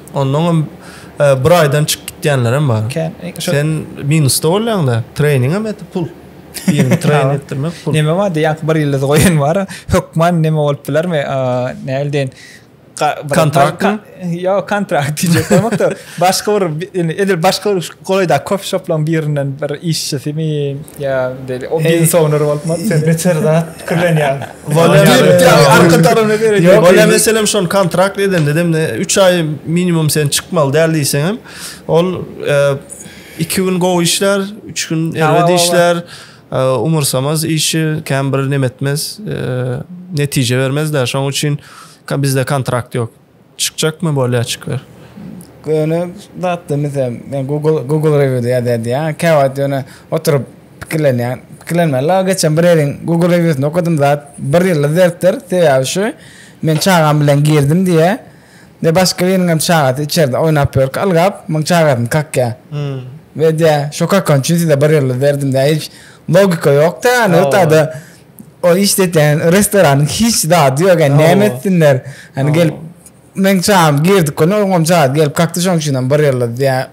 Ondan bir aýdan çykyp gitýänlerem bar. Sen minusda bolýaňda, treýningem etip pul. Birini treýn etdirmek pul. Neme bar diýýän, bir ýyldyz goýan bar. Hökman neme bolup bilermi? Näl diýen? Kontrakt. Ýa kontrakt diýjek bolmakda. Başga bir indi edil başga bir golaýda kofe şoplaryň birinden bir işçisimi ýa-da o biznes owner bolupmy? Sen beter zat pikirlenýäň. Wala arka tarafy ne derece? Wala meselem şon kontrakt edende dem ne 3 ay minimum sen çykmaly däl diýseň hem ol 2 e, gün gowy işler, 3 gün erbet işler. E, umursamaz işi kem bir nemetmez, e, netije bermez de. Şoň üçin bizde kontrakt ýok. Çykjakmy bolýaçyklar? Göni zatda misal men Google Google rewiewde ýazýar diýýär. Käwagt ýöne oturyp pikirlenýän. Pikirlenmän la geçen bir ýeriň Google rewiewsinde okadym zat bir ýylda zertdir. Sebäbi şu men çagam bilen girdim diýýär. Ýa başga biriniňem çagasy içerde oýnap ýörkä ylgap muň çagasyny kakýar. We diýýär şo kakan üçin size bir ýylda berdim diýýär. Hiç logika ýokda ýa ýa-da Ol işletýän restoranyň hiç zady ýok, ýa näme etsinler. Hany gelip meň çagam girdik gün oňam çaga gelip kakdy şoň üçin hem bir ýylda diýä.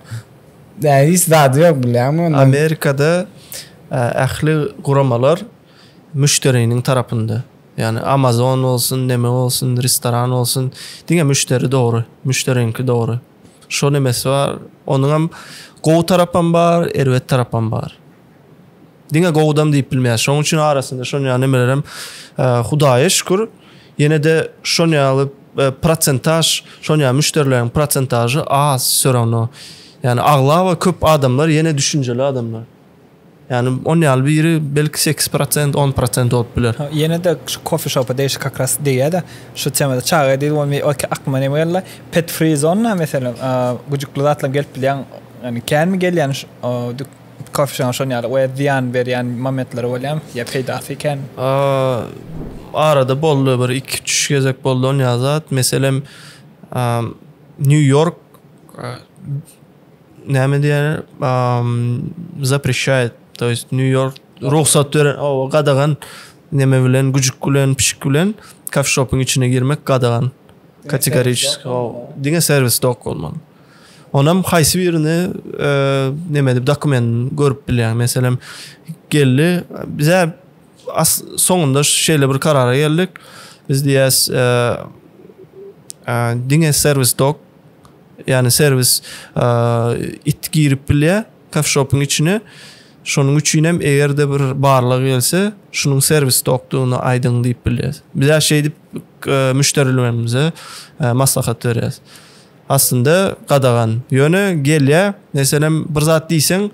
Dä hiç zady ýok bilýäňmi onda. Amerikada ähli guramalar müşderiniň tarapynda. Ýani Amazon bolsun, neme bolsun, restoran bolsun diňe müşderi dogry, müşderiňki dogry. Şo nemesi bar, onuňam gowy tarapam bar, erbet tarapam bar. Diňe gowudam diýip bilmeýäs. Şonuň üçin arasynda şon ýaly nemelerem Hudaýa şükür, ýene-de şon ýaly e, prosentaž, şon ýaly müşderileriň prosentažy az sörano. Ýani aglaba köp adamlar ýene düşünjeli adamlar. Yani on ýaly biri belki 8%, 10% bolup biler. Ýene de şu kofe şopa deýşik как раз diýýär-de, şu temada çaga diýdi, ol me oke aklyma näme geldi? Pet free zona meselem, güjükli zatlar gelip bilýän, yani känmi gelýän şu Kofeşoň şon ýaly we zyýan berýän momentleri bolýamy ýa peýdasy kän? Arada boldy bir iki üç gezek boldy on ýaly zat meselem New York näme diýerler zaprişaýat to ýest New York rugsat beren owo gadagan neme bilen güjük bilen pişik bilen kofeşopyň içine girmek gadagan kategoriçeski owo diňe serwisde ok bolmaly. Onam haýsy birini näme edip dokumentin görüp bilýär. Meselem geldi bize as soňunda şeýle bir karara geldik. Biz diýäs diňe servis dok ýani servis it girip bilýär kafşopyň içine. Şonuň üçin hem egerde bir barlyk gelse, şunuň servis dokdugyny aýdyň diýip bilýär. Bize şeýdip müşderilerimize maslahat berýär. aslynda gadagan. Ýöne gelýä, meselem bir zat diýseň,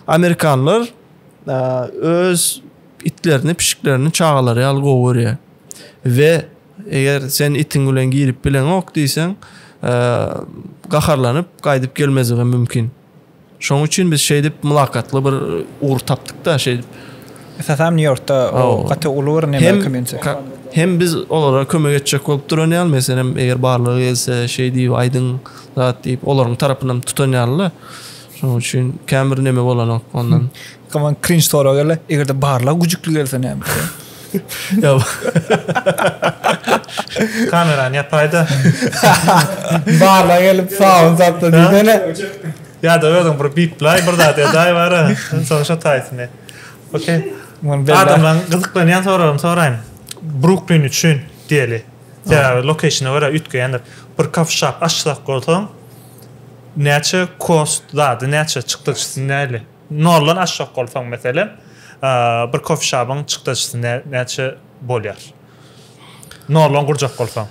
amerikanlar öz itlerini, pişiklerini çagalary ýaly gowy görýär. We eger sen itiň bilen girip bileňok diýseň, gaharlanyp gaýdyp gelmezligem mümkin. Şoň üçin biz şeýdip mylakatly bir ugur tapdyk-da şeýdip. Esasanam Nýu-Ýorkda gaty uly bir neme komýuniti. Hem biz olara kömek etjek bolup duran ýaly, meselem, eger barlygy gelse, şeý diýip aýdyň zat diýip, olaryň tarapynam tutan ýaly-da. Şoň üçin kän bir neme bolanok ondan. Kaman cringe soragy gele, egerde barlag güjükli gelse näme etjek? Ýa. Kamerany ýapaýda. Barlag gelip sawun satsa diýsene. Ýa-da özüň bir biplaý, bir zat edäý bara, soň şo taýsyny. Okey. Adamlaryň gyzyklanýan soragyny soraýyn. Bruklin üçin diýeli. Sebäbi lokeýşina görä üýtgeýändir. Bir coffee shop açjak bolsaň, näçe kost zady näçe çykdajysy näli? Noldan aşjak bolsaň meselem bir kofişabyň çykdajysy näçe bolýar? Noldan gurjak bolsaň.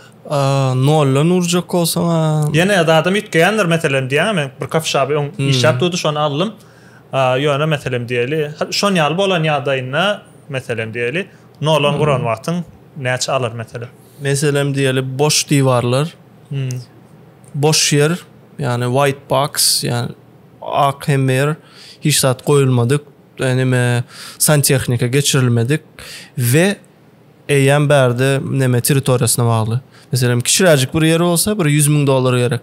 Noldan urjak bolsaň a. Ýene adam üýtgeýändir meselem diýýän men bir kofişaby öň işläp durdy şony aldym. Ýöne meselem diýeli şon ýaly bolan ýagdaýynda meselem diýeli noldan guran wagtyň näçe alar meselem? Meselem diýeli boş diwarlar. Boş ýer ýagny white box ýagny Ak Hemmer, hiç zat goýulmadyk, neme, santehnika geçirilmedik we eýýäm bärde neme territoriýasyna bagly. Meselem, kiçiräjik bir ýer bolsa, bir ýüz müň dollar gerek.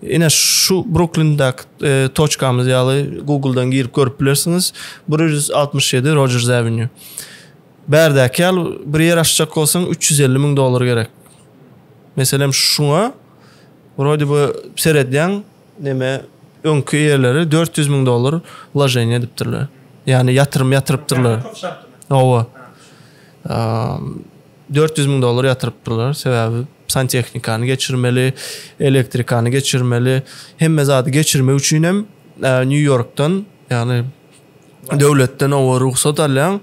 Ine, şu Bruklindäki e, toçkamyz ýaly Google-dan girip görüp bilersiňiz. 167 Rogers Avenue. Bärdäki ýaly bir ýer açjak bolsaň, 350 müň dollar gerek. Meselem, şuňa wrode bu seredýäň, neme öňki eýeleri dört ýüz müň dollar wloženiýe edipdirler. Ýagny ýatyrym ýatyrypdyrlar. Hawa. Dört ýüz müň dollar ýatyrypdyrlar. Sebäbi santehnikany geçirmeli, elektrikany geçirmeli. Hemme zady geçirmek üçin hem Nýu-Ýorkdan, ýagny döwletden oba rugsat alýaň.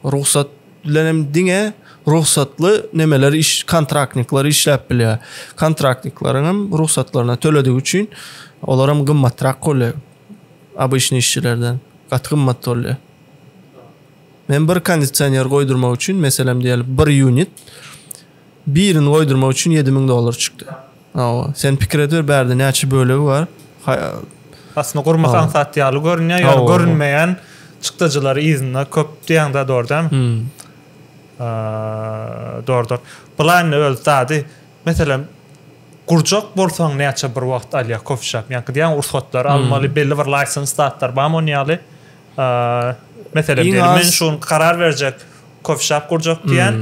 Rugsat bilen hem diňe rugsatly nemeler iş kontraktnikler işläp bilýär. Kontraktnikleriň hem rugsatlaryna töledigi üçin olar hem gymmatrak bolýar. Обычный işçilerden gaty gymmat bolýar. Men bir kondisioner goýdurmak üçin, meselem diýeli, bir ýunit birini goýdurmak üçin 7000 dollar çykdy. Hawa, sen pikir ediber bärde näçe bölegi bar? Aslynda gurmak aňsat ýaly görünýär, ýöne görünmeýän çykdajylary yzynda köp diýýäň-dä, dogry dälmi? Hum. Dogrudyr. Bulaýyny öz zady, meselem, gurjak bolsaň näçe bir wagt alýar kofişap? Ýaňky diýýäň rugsatlar almaly, belli bir laýsens zatlar barmy onuň ýaly? Meselem, men şu gün karar berjek kofişap gurjak diýýän.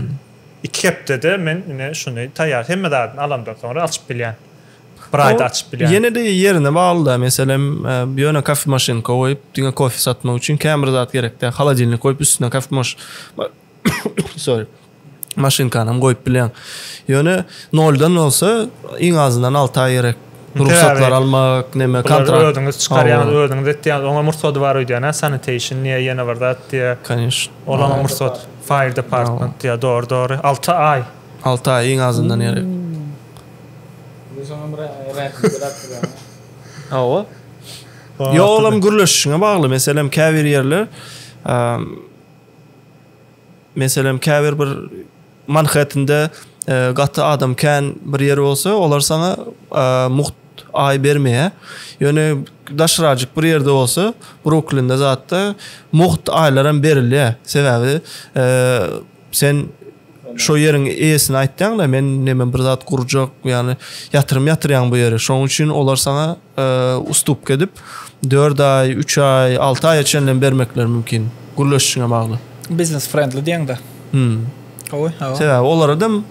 Iki hepdede men ine şuny taýýar hemme zadyny alamdan soňra açyp bilýän. Bir aýda açyp bilýän. Ýene-de ýerine bagly da. Meselem, ýöne kafe maşynka goýup, diňe kofe satmak üçin kän bir zat gerek däl. Holodilnik goýup, üstüne kafe maş sorry, maşynkanam goýup bilýäň. Ýöne noldan bolsa iň azyndan alty aý gerek. Rugsatlar almak, neme, kontrakt. Bular özüňiz çykarýaňyz, özüňiz etýäňiz. Oňam rugsady bar öýdýän hä, sanitation diýýä, ýene bir zat diýýä. Kanyşn. Olaňam rugsat, fire department diýýä, dogry, dogry. Alty aý. Alty aý iň azyndan gerek. Indi soňam rähimli rakdylar. Hawa. Ýok, olam gürleşişiňe bagly. Meselem, käbir ýerler, meselem, käbir bir Manhettende gaty adam kän bir ýer bolsa, olar saňa mugt aý bermeýär. Ýöne daşrajyk bir ýerde bolsa, Bruklinde zatda mugt aýlaram berilýär. Sebäbi sen şo ýeriň eýesine aýtýaň-da, men neme bir zat gurjak, ýagny ýatyrym ýatyrýaň bu ýere. Şonuň üçin olar saňa Ustupka edip, dört aý, üç aý, alty aýa çenlem bermekleri mümkin. Gürleşişiňe bagly. Biznes frendli diýeňde. Hmm. Gowy, hawa. Sebäbi olaradam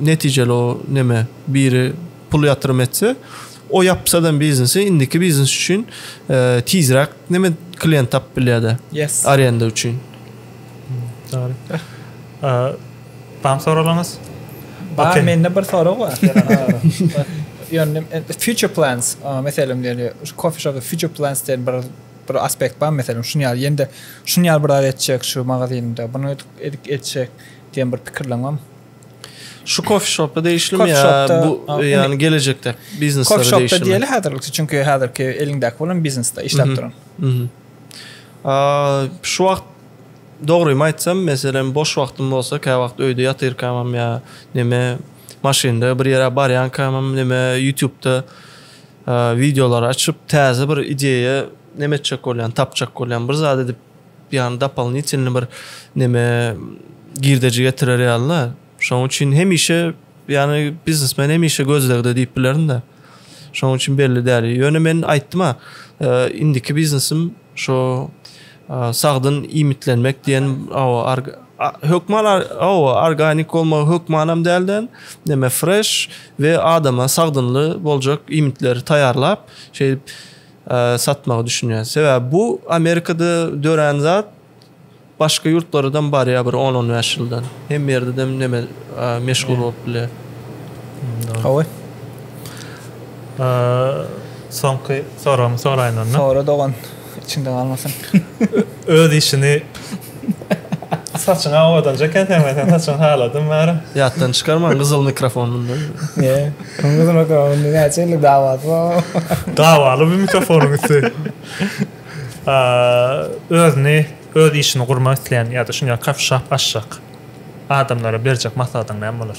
netijeli o neme, biri pul ýatyrym etse, o ýapsadam biznesi, indiki biznes üçin tizräk neme klient tapyp bilýär-de. Yes. Arenda üçin. Dogry. Bar soraglaryňyz? Bar, mende bir sorag bar. Ýöne future plans, meselem ýöne şu coffee shop future plans diýen bir bir aspekt bar, meselem şuny ýaly ýende şuny ýaly bir zat etjek şu magazynda, bunu edip etjek diýen bir pikirleň barmy? Şu coffee shop-a degişlimi ýa bu ýa-ni gelejekde bizneslere degişlimi? Coffee shop-da diýeli häzirlikçe, çünki häzirki eliňdäki bolan biznesde işläp duran. Şu wagt Dogrymy aýtsam, meselem, boş wagtym bolsa, käwagt öýde ýatyrkamam ýa neme, maşynda bir ýere barýankamam, neme, ýutubda wideolary açyp, täze bir ideýa neme etjek bolýan, tapjak bolýan, bir zat edip, ýagny dopolnitýlny bir neme, girdeji getirer ýaly-da. Şonuň üçin hemişe, ýagny biznesmen hemişe gözlegde diýip bilerin-de. Şonuň üçin belli däl. Ýöne men aýtdym-a, indiki biznesim şo Sagdyn iýmitlenmek diýen hökman organik bolmagy hökmanam dälde näme freş we adama sagdynly boljak iýmitleri taýýarlap şeýdip satmagy düşünýär. Sebäbi bu Amerikada dörän zat başga ýurtlaradam barýar bir on on bäş ýyldan. Hemme ýerdedem näme meşhur bolup bilýär. Hawa. Soňky soragymy soraýyn onda. Sora dogan. içinde galmasyn. Öz işini saçyňa owadanca eken sen men sen saçyňy haladym bäri. Ýatdan çykarmaň gyzyl mikrofon munda. Ýe. Gyzyl mikrofon näçe ýyllyk dawasy bar. Dawaly bu mikrofonyň üsti. Özüni öz işini gurmak isleýän ýa-da şuň ýaly kafişap açjak adamlara berjek maslahatyň näme bolar?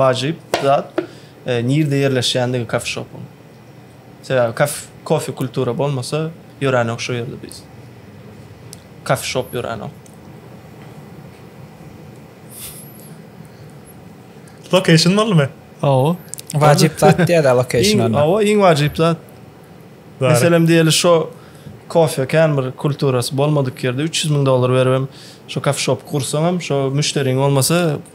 wajyp zat nirde ýerleşýändigi kofeşopyň. Sebäbi kaf kofe kultura bolmasa ýöränok şu ýerde biz. Kofeşop ýöränok. Location bolmy? Ow. Wajyp zat diýýär location onda. Ow, iň wajyp zat. Meselem diýeli şu kofe kän bir kulturasy bolmadyk ýerde 300 müň dollar beribem şu kofeşop gursaňam şu müşderiň bolmasa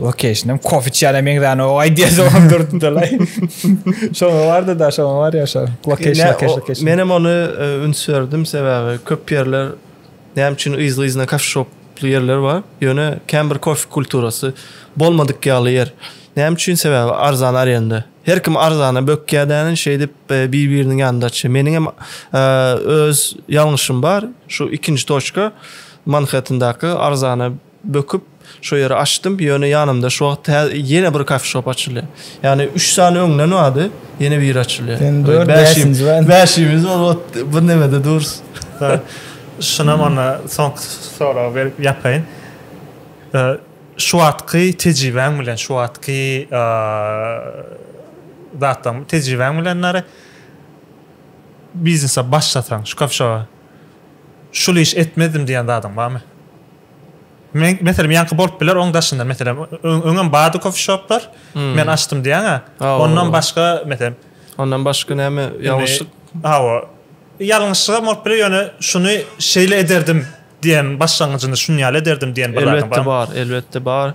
Lokeşinem kofiçýana meňzäni o aýdýa soňam durdylaý. Şoňa bardy da şoňa bar ýa şo. Lokeş lokeş lokeş. Menem ony e, üns berdim sebäbi köp ýerler näme üçin yzly-yzyna kafşop köpli ýerler bar. Ýöne kän bir kofe kulturasy bolmadyk ýaly ýer. Näme üçin? Sebäbi arzan arenda. Her kim arzana bökýär dänen şeýdip e, bir-biriniň ýanynda açýar. Meniň hem e, öz ýalňyşym bar. Şu ikinji toçka Manhattandaky arzana Böküp, şo ýeri açdym, ýöne ýanymda şu wagt tä ýene bir kafeşop açylýar. Ýagny üç sany öňden bardy, ýene biri açylýar. Sen dört, bäşinji bar. Bäşimiz bar, ot bir nämede durus. Şunam onda soňky soragy berip ýapaýyn. Şu wagtky tejribäň bilen, şu wagtky zatlaryň, tejribäň bilen nary biznese başlasaň, şu kafeşoba şul iş etmezdim diýen zadyň barmy? Men, meselem, ýaňky bolup biler, oň daşyndan, meselem, öňem bardy kofişoplar, men açdym diýýäň-ä. Ondan başga, meselem. Ondan başga näme ýalňyşlyk? Hawa. Ýalňyşlygam bolup biler, ýöne şuny şeýle ederdim diýen başlangyjyny şuny ýaly ederdim diýen bir zat bar. Elbetde bar, elbetde bar.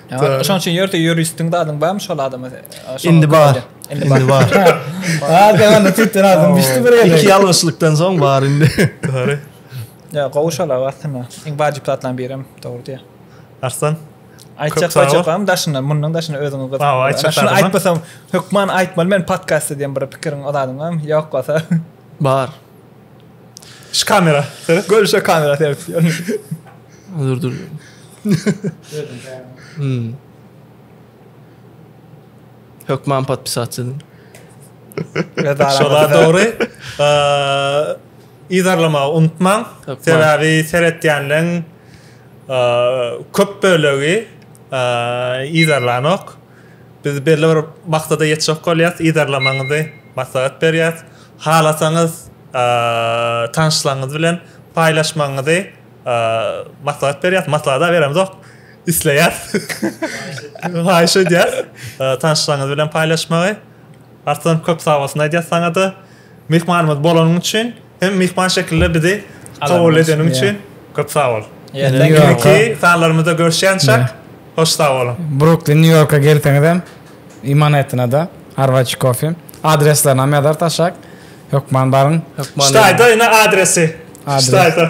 Şoň üçin ýörite ýuristiň zadyň barmy şol adama? Indi bar. Indi bar. Ha, demana tütün adam bişdi bir ýere. Iki ýalňyşlykdan soň bar indi. Dogry. Ýa, gowy şol aslynda. Iň wajyp zatlaryň biri hem dogry diýýär. Arslan. Aýtjak zadyň barmy daşyndan? Mundan daşyndan özüňe gyz. Hawa, aýtjak zadyň. Aýtmasam, hökman aýtmaly men podkastda diýen bir pikiriň o zadyň barmy? Ýok bolsa. Bar. Şu kamera. Seret. Gör şu kamera seret. Dur dur. Hmm. Hökman podpisatçy. Şola dogry. Eee Izarlama unutmaň. Sebäbi seretýänleriň köp bölegi izarlanok. Biz belli bir maksada ýetjek bolýas, yzarlamagyňyzy maslahat berýäs. Halasaňyz tanyşlaryňyz bilen paýlaşmagyňyzy maslahat berýäs, maslahada beremzok, isleýäs, haýyş edýäs tanyşlaryňyz bilen paýlaşmagy. Artdan köp sagbolsun aýdýas saňada. Myhmanymyz bolanyň üçin. Hem myhman şekilde bizi kabul edeniň üçin köp sag bol. Indiki sanlarymyzda görüşýänçäk hoş sag boluň. Bruklin New Yorka gelseňizem i Manhettenada Arwaci Coffee adreslerini hem ýazarys aşak hökman baryň. Çytaýda ine adresi. Çytaýda.